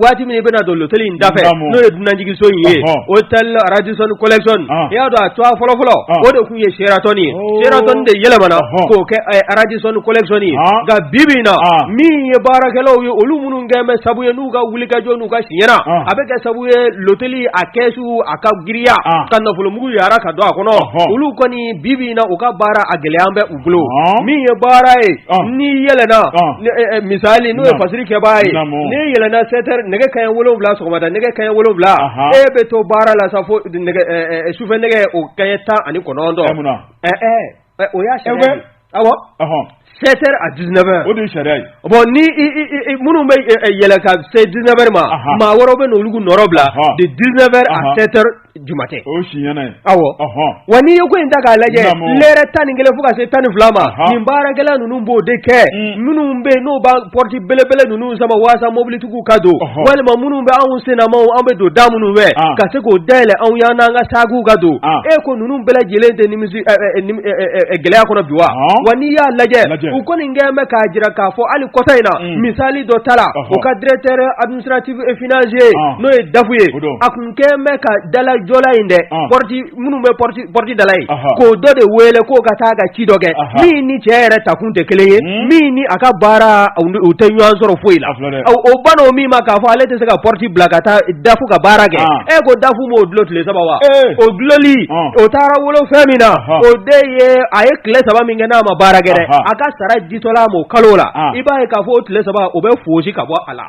waati min bɛna don loteli in da n'o ye dunanjiginso in ye hôtel Radisson Collection i y'a dɔn a tɔɔ fɔlɔ fɔlɔ o de tun ye Sheraton ye Sheraton de yɛlɛmana k'o kɛ Radisson Collection nka bibi in na min ye baarakɛlaw ye olu minnu kɛ bɛ sabu ye k'u ka wulikajɔ n'u ka siɲɛna a bɛ kɛ sabu ye loteli a kɛsu a ka girinya ka nafolomugu yara ka don a kɔnɔ olu kɔni bibi in na u ka baara a gɛlɛya bɛ u bolo min ye baara ye n'i yɛlɛna misali n'o ye fasiri kɛbaa ye n'i yɛlɛna sept heures nɛgɛ kaɲɛ wolowula sɔgɔmada nɛgɛ kaɲɛ wolowula e bɛ to baara la sa fo sufɛ nɛgɛ o kaɲɛ tan ani kɔnɔntɔn o y'a sept heures à dix-neuf heures ye bɔn ni minnu bɛ yɛlɛ ka se dix-neuf heures ma maa wɛrɛ bɛ n'olu nɔrɔ bila de dix-neuf heures à sept heures du matin aussi awa n'i ye ko in ta k'a lajɛ lɛrɛ tan ni kelen fo ka se tan ni fila ma nin baarakɛla ninnu b'o de kɛ mm. minnu bɛ yen n'o b'an porte belebele ninnu sama walasasa mobilitigiw ka don walima minnu bɛ anw senma an bɛ don da minnu fɛ ka se k'o daw yɛlɛ anw ye an n'an ka sakiw ka don e ko ninnu bɛɛ lajɛlen tɛ nimi gɛlɛya kɔnɔ bi wa wa n'i y'a lajɛ u kɔni kɛ bɛ k'a jira k'a fɔ hali kɔsa in na misali dɔ tala u ka directeur administratif financier n'o ye dafu ye a tun kɛ bɛ ka dalajɔla in dɛ pɔriti minnu bɛ pɔriti da la yen k'o dɔ de wele k'o ka taa ka ci dɔ kɛ min ni cɛ yɛrɛ takun tɛ kelen ye min ni a ka baara u tɛ ɲɔgɔn sɔrɔ foyi la o banna min ma k'a fɔ ale tɛ se ka pɔriti bila ka taa dafu ka baara kɛ e ko dafu b'o dulo tile saba wa o duloli o taara wolo fɛn min na o de ye a ye tile saba min kɛ n'a ma baara kɛ a ka sara ditɔla a ma o kalo la i b'a ye k'a fɔ o tile saba o bɛ foosi ka bɔ a la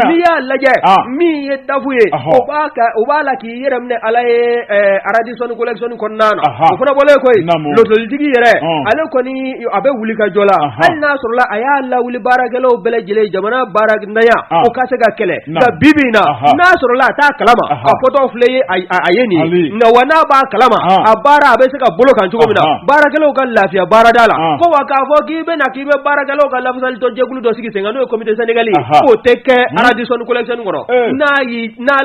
n'i y'a lajɛ min ye dafu ye o b'a la i yɛrɛ minɛ ala ye Radisson Collection kɔnɔna na o fana bɔlen kɔ yen lotolitigi yɛrɛ ale kɔni a bɛ wulikajɔ la hali n'a sɔrɔ a y'a lawuli baarakɛlaw bɛɛ lajɛlen jamana baara ɲa o ka se ka kɛlɛ nka bibi na n'a sɔrɔ a t'a kalama a fɔtɔ filɛ ye a ye nin nka wa n'a b'a kalama a baara a bɛ se ka bolo kan cogo min na baarakɛlaw ka lafiya baarada la ko wa k'a fɔ k'i bɛna k'i bɛ baarakɛlaw ka lafasali dɔ jɛkulu dɔ sigi sen n'o ye comité syndical k'o tɛ kɛ Radisson Collection kɔnɔ n'a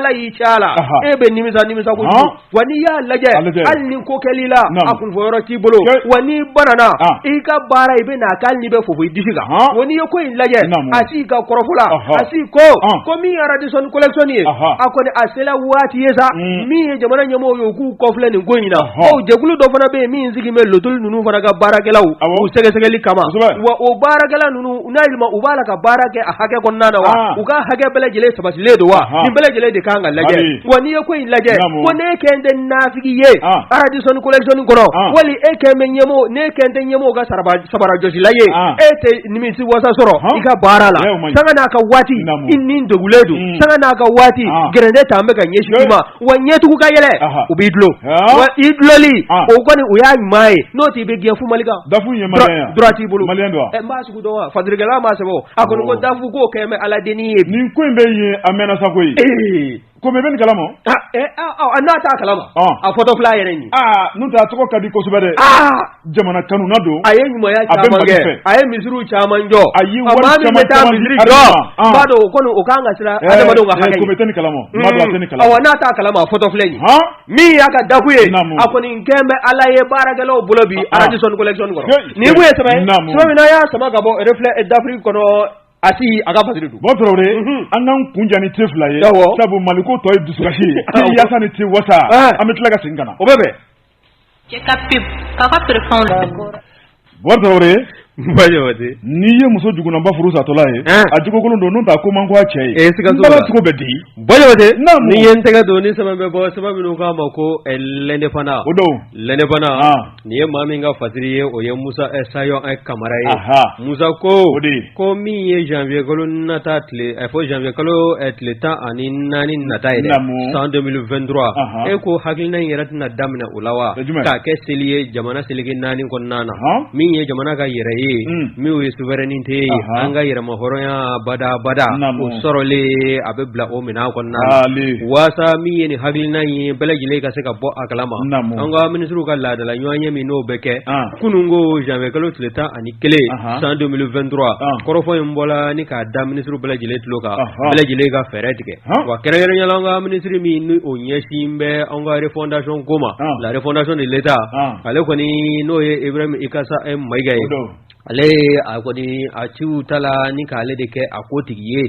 la e bɛ nimisa nimisa wa n'i y'a lajɛ hali ni ko kɛl'i la a kunfɔ yɔrɔ t'i bolo wa n'i banana i ka baara i bɛ n'a kɛ hali n'i bɛ fofo i disi kan wa n'i ye ko in lajɛ Asi ka kɔrɔfɔ la Asi ko ko min ye Radisson Collection ye a kɔni a sela waati ye sa mm. min ye jamana ɲɛmɔgɔ ye u k'u kɔfilɛ nin ko in na jɛkulu dɔ fana bɛ yen min sigi bɛ lotoli ninnu fana ka baarakɛlaw ko sɛgɛsɛgɛli kama wa o baarakɛla ninnu u n'a yɛlɛma u b'a la ka baara kɛ a hakɛ kɔnɔna na wa u ka hakɛ bɛɛ lajɛlen sabatilen don wa nin bɛɛ lajɛlen de kan ka lajɛ wa n'i ye ko in lajɛ ko ne kɛ tɛ naafigi ye Radisson Collection kɔnɔ wali e kɛ bɛ ɲɛmaa ne kɛ tɛ ɲɛmaa ka sabarajɔsila ye e tɛ nimisiwasa sɔrɔ i ka baara la sanga n'a ka waati i ni degunnen don sanga n'a ka waati gɛrɛntɛ tan bɛ ka ɲɛsin u ma wa ɲɛtugu ka yɛlɛ u b'i dulo i duloli o kɔni o y'a ɲuman ye n'o tɛ i bɛ gɛn fu Mali kan DAF ye maliyɛn ye wa droit t'i bolo maliyɛn don wa ɛ n b'a sugu dɔn wa faturukɛla m'a sɛbɛn o a kɔni ko DAF k'o kɛ bɛ Ala dennin ye nin ko in bɛ yen a mɛnna sa koyi ee ko mais i bɛ nin kalama aa ɛ ɔ n'a t'a kalama a fɔtɔ filɛ a yɛrɛ ɲɛ aa n'o tɛ a tɔgɔ ka di kosɛbɛ dɛ aa Jamana kanuna don a ye ɲuman a bɛ mali fɛ a ye misiri caman jɔ a y'i jɔ b'a dɔn o kɔni o k'an ka siran kala kala n'a t'a kalama fɔtɔ filɛ in min y'a ka dafu ye a kɔni kɛ bɛ ala ye baarakɛlaw bolo bi Radisson Collection kɔni ye saba min y'a sama ka bɔ filɛ d'Afrique kɔnɔ a a ka badu ba an ka kunjan ni te fila ye sabu mali ko tɔ ye dususi ye yaasa ni te wasa an bɛ tila ka sen ka o bɛ n'i ye muso jugunaba furu satɔla ye a jugukolon don n ta ko man cɛ ye cogo bɛ di ye n tɛgɛ don ni sɛbɛn bɛ bɔ sɛbɛn min n'u k'a ma ko L'Indépendant o don L'Indépendant nin ye maa min ka fasiri ye o ye musa sayon kamara ye musa ko ko min ye janvier kalo nata a fɔ janvier kalo tile tan ani naani nata ye san deux mille vingt-trois e ko hakilina in yɛrɛ tɛna daminɛ o la wa k'a kɛ seli ye jamana seleke naani kɔnɔna na min ye jamana ka yɛrɛ ye min ye souveraineté ye an ka yɛrɛmahɔrɔnya badabada o sɔrɔlen a bɛ bila o minɛn a kɔnɔna walasa min ye nin hakilina ye bɛɛ lajɛlen ka se ka bɔ a kalama an ka minisiriw ka laadala ɲɔgɔnye min n'o bɛ kɛ kunun ko janvier kalo tile tan ani kelen san deux mille vingt-trois kɔrɔfɔ in bɔra ni k'a da minisiri bɛɛ lajɛlen tulo kan bɛɛ lajɛlen ka fɛɛrɛ tigɛ wa kɛrɛnkɛrɛnya la an ka minisiri min ni o ɲɛsin bɛ an ka refondation ko ma la refondation de l'État ale kɔni n'o ye Ibrahim Ikassa Maïga ye ale a kɔni a ci ta la ni k'ale de kɛ o tigi ye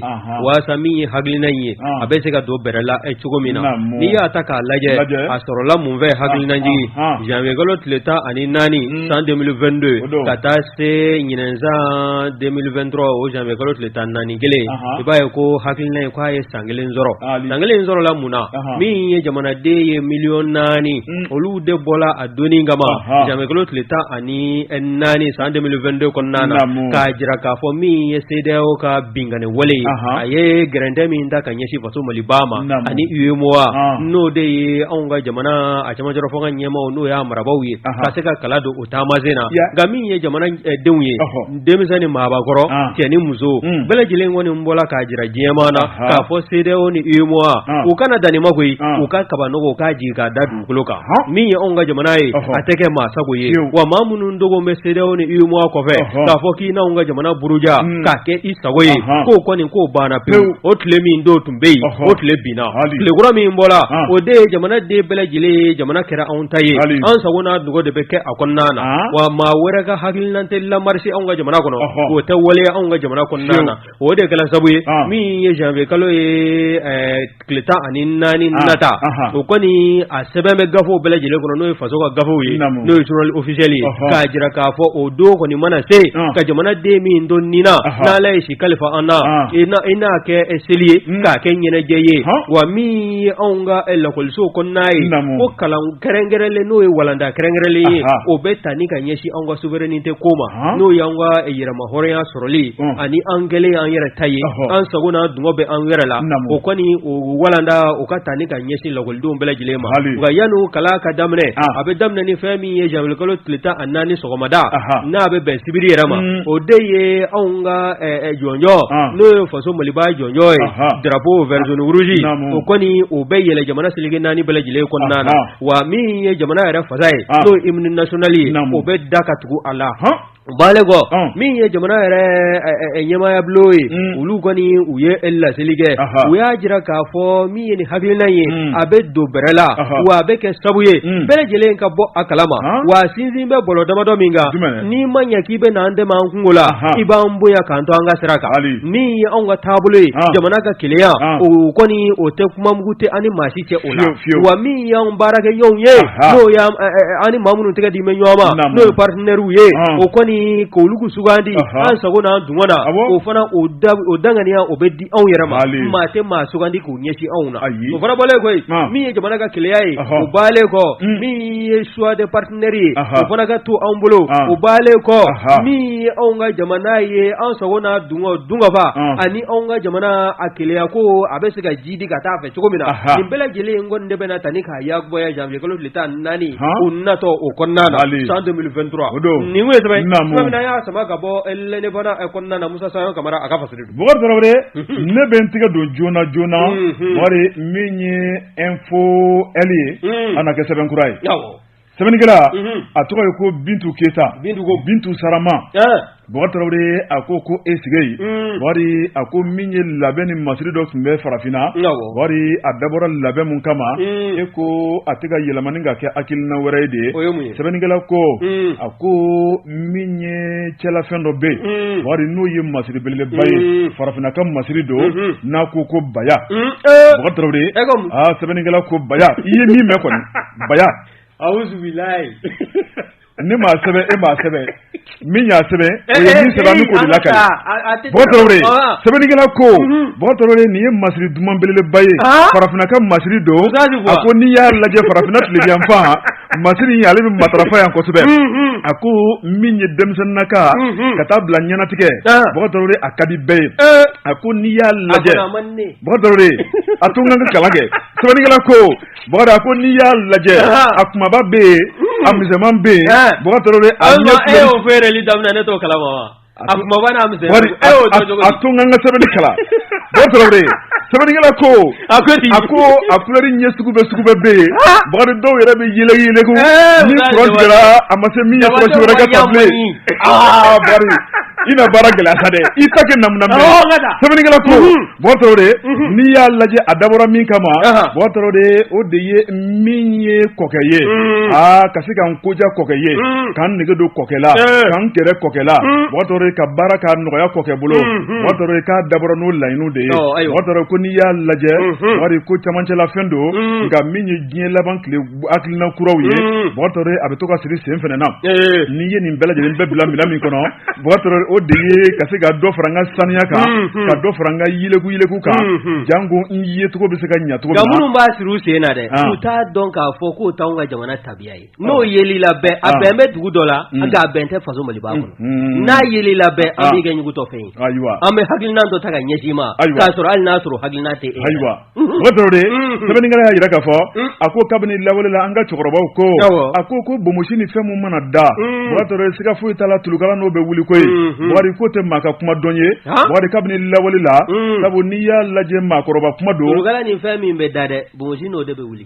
waasa min ye hakilina in ye a bɛ se ka don bɛrɛ la e cogo min na n'i y'a ta k'a lajɛ a sɔrɔla mun fɛ hakilinajigi janvier kalo tile tan ani naani hmm. san deux mille vingt-deux ka taa se ɲinan san deux mille vingt-trois o janvier kalo tile tan naani kelen i b'a ye ko hakilina ye k'a ye san kelen sɔrɔ san kelen sɔrɔla mun na min ye jamanaden ye miliyɔn naani hmm. olu de bɔra a don kama janvier kalo tile tan ni naani san deux mille vingt-deux kɔnɔna na k'a jira k'a fɔ min ye CEDEAO ka binkanni wale ye a ye gɛrɛntɛ min ta ka ɲɛsin faso mali ba ma ani UEMOA n'o de ye anw ka jamana a cɛmancɛrɔfanga ɲɛmaaw n'o y'a marabagaw ye ka se ka kala don u taama sen na nka min ye jamana eh, denw ye denmisɛn ni maakɔrɔ cɛ ni muso hmm. bɛɛ lajɛlen kɔni bɔra k'a jira diɲɛmaa na k'a fɔ CEDEAO ni UEMOA u kana dan nin ma koyi u ka kabanɔgɔ k'a jigin k'a da bolo kan min ye anw ka jamana ye a tɛ kɛ maa sago ye wa maa minnu dogo bɛ CEDEAO ni UEMOA kɔfɛ k'a fɔ k'i n'anw ka jamana buruja hmm. k'a kɛ i sago ye k'o kɔni k'o banna pewu o tile min don tun bɛ yen o tile binna tilekura min bɔra o de ye jamana den bɛɛ lajɛlen ye jamana kɛra anw ta ye an sago n'an dungɔ de bɛ kɛ a kɔnɔna na wa maa wɛrɛ ka hakilina tɛna marcher anw ka jamana kɔnɔ o tɛ waleya anw ka jamana kɔnɔna na O de kɛra sabu ye min ye janvier kalo ye tile tan ani naani nata o kɔni a sɛbɛn bɛ gafew bɛɛ lajɛlen kɔnɔ n'o ye faso ka gafew ye n'o ye c'est officiel k'a jira k'a fɔ o don kɔni mana se ka jamana den min don ni na n'Ala ye si kalifa an na i n'a kɛ seli ye k'a kɛ ɲɛnajɛ ye wa min ye anw ka lakɔliso kɔnɔna ye ko kalan kɛrɛnkɛrɛnlen n'o ye walanda kɛrɛnkɛrɛnlen ye o bɛ ta ni ka ɲɛsin an ka souveraineté ko ma n'o y'an ka yɛrɛma hɔrɔnya sɔrɔli ani an kɛlen an yɛrɛ ta ye an sago n'an dungɔ bɛ an yɛrɛ la o kɔni o walanda o ka taa ni ka ɲɛsin lakɔlidenw bɛɛ lajɛlen ma nka yanni kalan ka daminɛ a bɛ daminɛ ni fɛn min ye janvier kalo tile tan ani naani sɔgɔmada n'a bɛ bɛn sibiri yɛrɛ ma mm. o de ye anw ka jɔnjɔ n'o ye faso maliba jɔnjɔ ye drapeau vert jaune rouge o kɔni o bɛ yɛlɛ jamana seleke naani bɛɛ lajɛlen kɔnɔna na wa min ye jamana yɛrɛ fasa ye n'o ye hymne national ye o bɛ da ka tugu a la O baalen kɔ min ye jamana yɛrɛ ɲɛmaayabulon ye olu kɔni u ye laseli kɛ u y'a jira k'a fɔ min ye nin hakilina ye a bɛ don bɛrɛ la wa a bɛ kɛ sabu ye bɛɛ lajɛlen ka bɔ a kalama wa sinsin bɛ bɔlɔ damadɔ min kan n'i ma ɲɛ k'i bɛ an dɛmɛ an kungo la i b'an bonya k'an to an ka sira kan min ye anw ka taabolo ye jamana ka kelenya o kɔni o tɛ kuma mugu tɛ an ni maa cɛ o la fiyewu fiyewu wa min y'anw baarakɛ ɲɔgɔnw ye Aha. n'o y'an ɛ, ɛ, ɛ, an ni maa minnu tɛgɛ di bɛ ɲɔgɔn ma Naamu. n'o ye partenaires ye Ɔn. o kɔni k'olu k'u sugandi Aha. an sago n'an dungɔ na Awɔ. o fana o da o daŋaniya o bɛ di anw yɛrɛ ma Mali. maa tɛ maa sugandi k'u ɲɛsin anw na Ayi. o fana bɔlen kɔ Ɔn. min ye jamana ka kelenya ye Ɔhɔ. o baalen kɔ Mm. min ye choix de partenaire ye Aha. o fana ka to anw bolo Ɔn. o baalen kɔ Aha. min ye anw ka jamana ye an sago n'an dungɔ dungɔfa Ɔn. ani anw ka jamana a kelenya ko a bɛ se ka jiidi ka taa a fɛ cogo min na nin bɛɛ lajɛlen in kɔni de bɛna taa ni k'a ya bɔya janvier kalo tile tan ni naani o natɔ o kɔnɔna na san deux mille vingt-trois nin y'a sama ka bɔ L'Indépendant kɔnɔna na musa sayɔn kamara a ka fasiri don bakɔrɔ tarawele ne bɛ n tɛgɛ don joona joona wari min ye info e ye a na kɛ sɛbɛnkura ye sɛbɛnnikɛla a tɔgɔ ye ko bintu keyita bintu bintu sarama tarawele a ko ko e sigi wari a ko min ye labɛn ni masiri dɔ tun bɛ farafinna wari a dabɔra labɛn min kama e ko a tɛ ka yɛlɛma ni ka kɛ hakilina wɛrɛ ye dɛ sɛbɛnnikɛla ko a ko min ye cɛlafɛn dɔ bɛ yen wari n'o ye masiri belebeleba ye farafinna ka masiri don n'a ko ko baya sɛbɛnnikɛla ko baya ye min bɛ kɔnɔ baya ne ma sɛbɛn e ma sɛbɛn min y'a sɛbɛn o ye min sɛbɛn min ko de lakali bakɔrɔ tarawele sɛbɛnnikɛla ko bakɔrɔ tarawele nin ye masiri duman belebeleba ye farafinna ka masiri don a ko n'i y'a lajɛ farafinna tilebiyanfan masiri in ale bɛ matarafa yan kosɛbɛ a ko min ye denmisɛnninna ka ka taa bila ɲɛnatigɛ bakɔrɔ tarawele a ka di bɛɛ ye a ko n'i y'a lajɛ bakɔrɔ tarawele a to n ka kalan kɛ sɛbɛnnikɛla ko Bakari a ko n'i y'a lajɛ a kumaba bɛ yen a misɛnman bɛ yen feere daminɛ ne kala a tun ka sɛbɛnkɛla ko a a ko a kulɛri ɲɛ sugu bɛɛ sugu bɛɛ bɛ yen bakari dɔw yɛrɛ bɛ yɛlɛ ye ne a ma se min wɛrɛ ka i baara gɛlɛya dɛ i ta kɛ na sɛbɛnkɛla ko de n'i y'a lajɛ a dabɔra min kama ma de o de ye min ye kɔkɛ ye a ka se ka n ko diya kɔkɛ ye ka n nege don kɔkɛ la ka n gɛrɛ kɔkɛ la ka baara ka nɔgɔya kɔkɛ bolo k'a dabɔra n'o laɲini de ye ko n'i y'a lajɛ wari ko camancɛlafɛn don nka min ye diɲɛ laban tile hakilina kuraw ye a bɛ to ka siri sen fana na n'i ye nin bɛɛ lajɛlen bɛɛ bila minɛn min kɔnɔ o de ye ka se ka dɔ fara n ka saniya kan ka dɔ fara n ka yɛlɛkuyɛlɛku kan janko n yecogo bɛ se ka ɲɛ a minnu b'a siri u sen na dɛ u t'a dɔn k'a fɔ k'o t'an ka jamana tabiya ye n'o yeli la a bɛn bɛ dugu dɔ la nka a bɛn tɛ faso maliba kɔnɔ n'a yeli la bɛn an b'i kɛugutɔ fɛ yen an bɛ hakilina dɔ ta ka ɲɛsin i ma hali n'a sɔrɔ hakilina tɛ ayiwa o tɔɔrɔ de sɛbɛnnikɛla y'a jira k'a fɔ a ko kabini lawale la an ka cɛkɔrɔbaw ko a ko ko bonmosi ni fɛn min mana da o'a siga foyi t'a la tuka n'o bɛ wuli koyi wari ko tɛ maa ka kuma dɔn ye wari kabini lawale la sabu n'i y'a lajɛ maakɔrɔba kuma don fɛn min bɛ da dɛ bonmosi n'o de bɛ wuli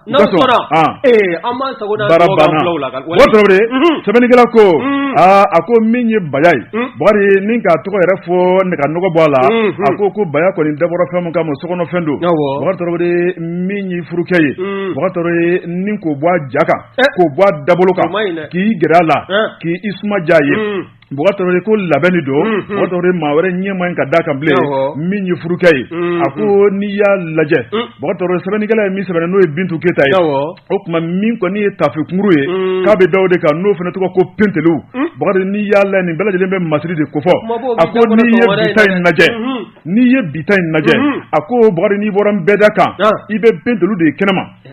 N' sɔnna an ma sago la sɛbɛnnikɛla ko aa a ko min ye baya ye n k'a tɔgɔ yɛrɛ fɔ n ka nɔgɔ bɔ a la a ko ko baya kɔni dabɔra fɛn min kama sokɔnɔfɛn don min ye furukɛ ye k'o bɔ a ja kan k'o bɔ a dabolo kan k'i gɛrɛ a la k'i suma diya a ye Bukari ko labɛnni don bukari maa wɛrɛ ɲɛ man kan ka da a kan bilen min ye furukɛ ye a ko n'i y'a lajɛ bukari sɛbɛnnikɛla ye min sɛbɛn n'o ye bintu keyita ye o tuma min kɔni ye tafekunkurun ye k'a bɛ da o de kan n'o fana tɔgɔ ko pentelu bakari n'i y'a lajɛ nin bɛɛ lajɛlen bɛ masiri de ko fɔ a ko n ye bi ta in lajɛ n'i ye bi ta in lajɛ a ko bukari n'i bɔra nbɛda kan i bɛ pentelu de ye kɛnɛma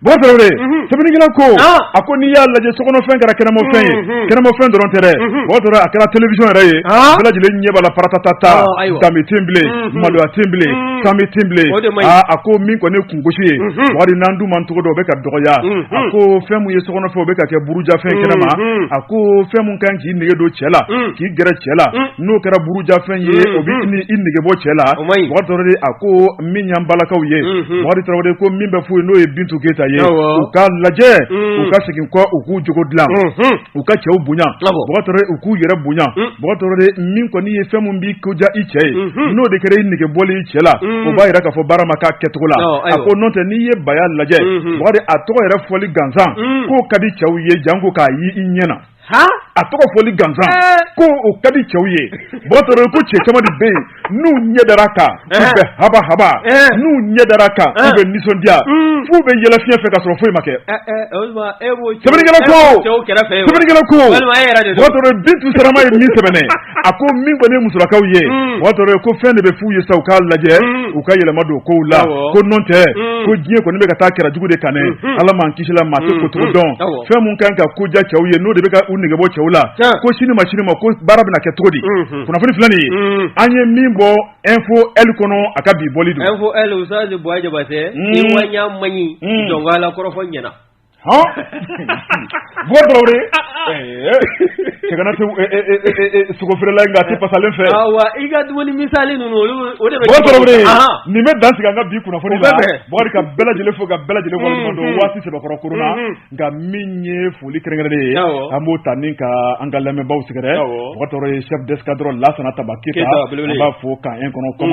Ba tarawele sɛbɛnnikɛla ko a ko n'i y'a lajɛ sokɔnɔfɛn kɛra kɛnɛmafɛn ye kɛnɛmafɛn dɔrɔn tɛ o tora a kɛra telefɛn yɛrɛ ye bɛɛ lajɛlen ɲɛ b'a la paratata danbe tɛ yen bilen maloya tɛ yen bilen danbe tɛ yen bilen a ko min kɔni ne kun gosi ye wari n' dun man cogo dɔ o bɛ ka dɔgɔya a ko fɛn min ye sokɔnɔfɛn ye o bɛ ka kɛ burujafɛn kɛnɛ ma a ko fɛn min kan k'i nege don cɛ la k'i gɛrɛ cɛ la n'o kɛra burujafɛn ye o bɛ i nege bɔ cɛ la a ko min y'an balakaw ye wari tarawele ko min bɛ fɔ ye n'o ye bintu keyita ye u k'a lajɛ u ka segin kɔ u k'u jogo dilan u ka cɛw bonya u k'u yɛrɛ bonya min kɔni ye fɛn min b'i ko diya i cɛ ye n'o de kɛra i nege bɔlen i cɛ la o b'a jira k'a fɔ baara ma kɛ a kɛcogo la a ko n'o tɛ n'i ye baya lajɛ a tɔgɔ yɛrɛ fɔli gansan k'o ka di cɛw ye janko k'a ye i ɲɛ na a tɔgɔ fɔli gansan ko o ka di cɛw ye ba ko cɛ caman de bɛ yen n'u ɲɛ dara a kan u bɛ haba haba n'u ɲɛ dara a kan u bɛ nisɔndiya mm. f'u bɛ yɛlɛ fiɲɛ fɛ ka sɔrɔ foyi ma kɛ ko bintu sirama ye min sɛbɛn a ko min kɔni ye musolakaw ye o y'a sɔrɔ ko fɛn de bɛ f'u ye sa u k'a lajɛ u ka yɛlɛma don kow la ko n'o tɛ ko diɲɛ kɔni bɛ ka taa kɛrɛ jugu de kan ala m'an kisi la maa kocogo dɔn fɛn minnu kan ka ko diya cɛw ye n'o de bɛ k'u nege bɔ cɛw la ko sini ma sini ma ko baara bɛna kɛ cogo di kunnafoni filɛ nin ye an ye min bɔ e fo e kɔnɔ a ka bi bɔli don e fɔ e u bɔ jaba tɛ ma ɲi jɔn la kɔrɔfɔ ɲɛna sogofeerela a tɛ pasalen fɛ i ka dumuni misali ninnu olu nin bɛ dan sigi an ka bi kunnafoni ka bɛɛ lajɛlen fo ka bɛɛ lajɛlen waati sɛbɛkɔrɔ kura la nka min ye foli kɛrɛnkɛrɛnnen ye an b'o ta nin ka an ka lamɛnbaw sɛgɛrɛ chef d'escadron lasana tanba keyita b'a fo kan in kɔnɔ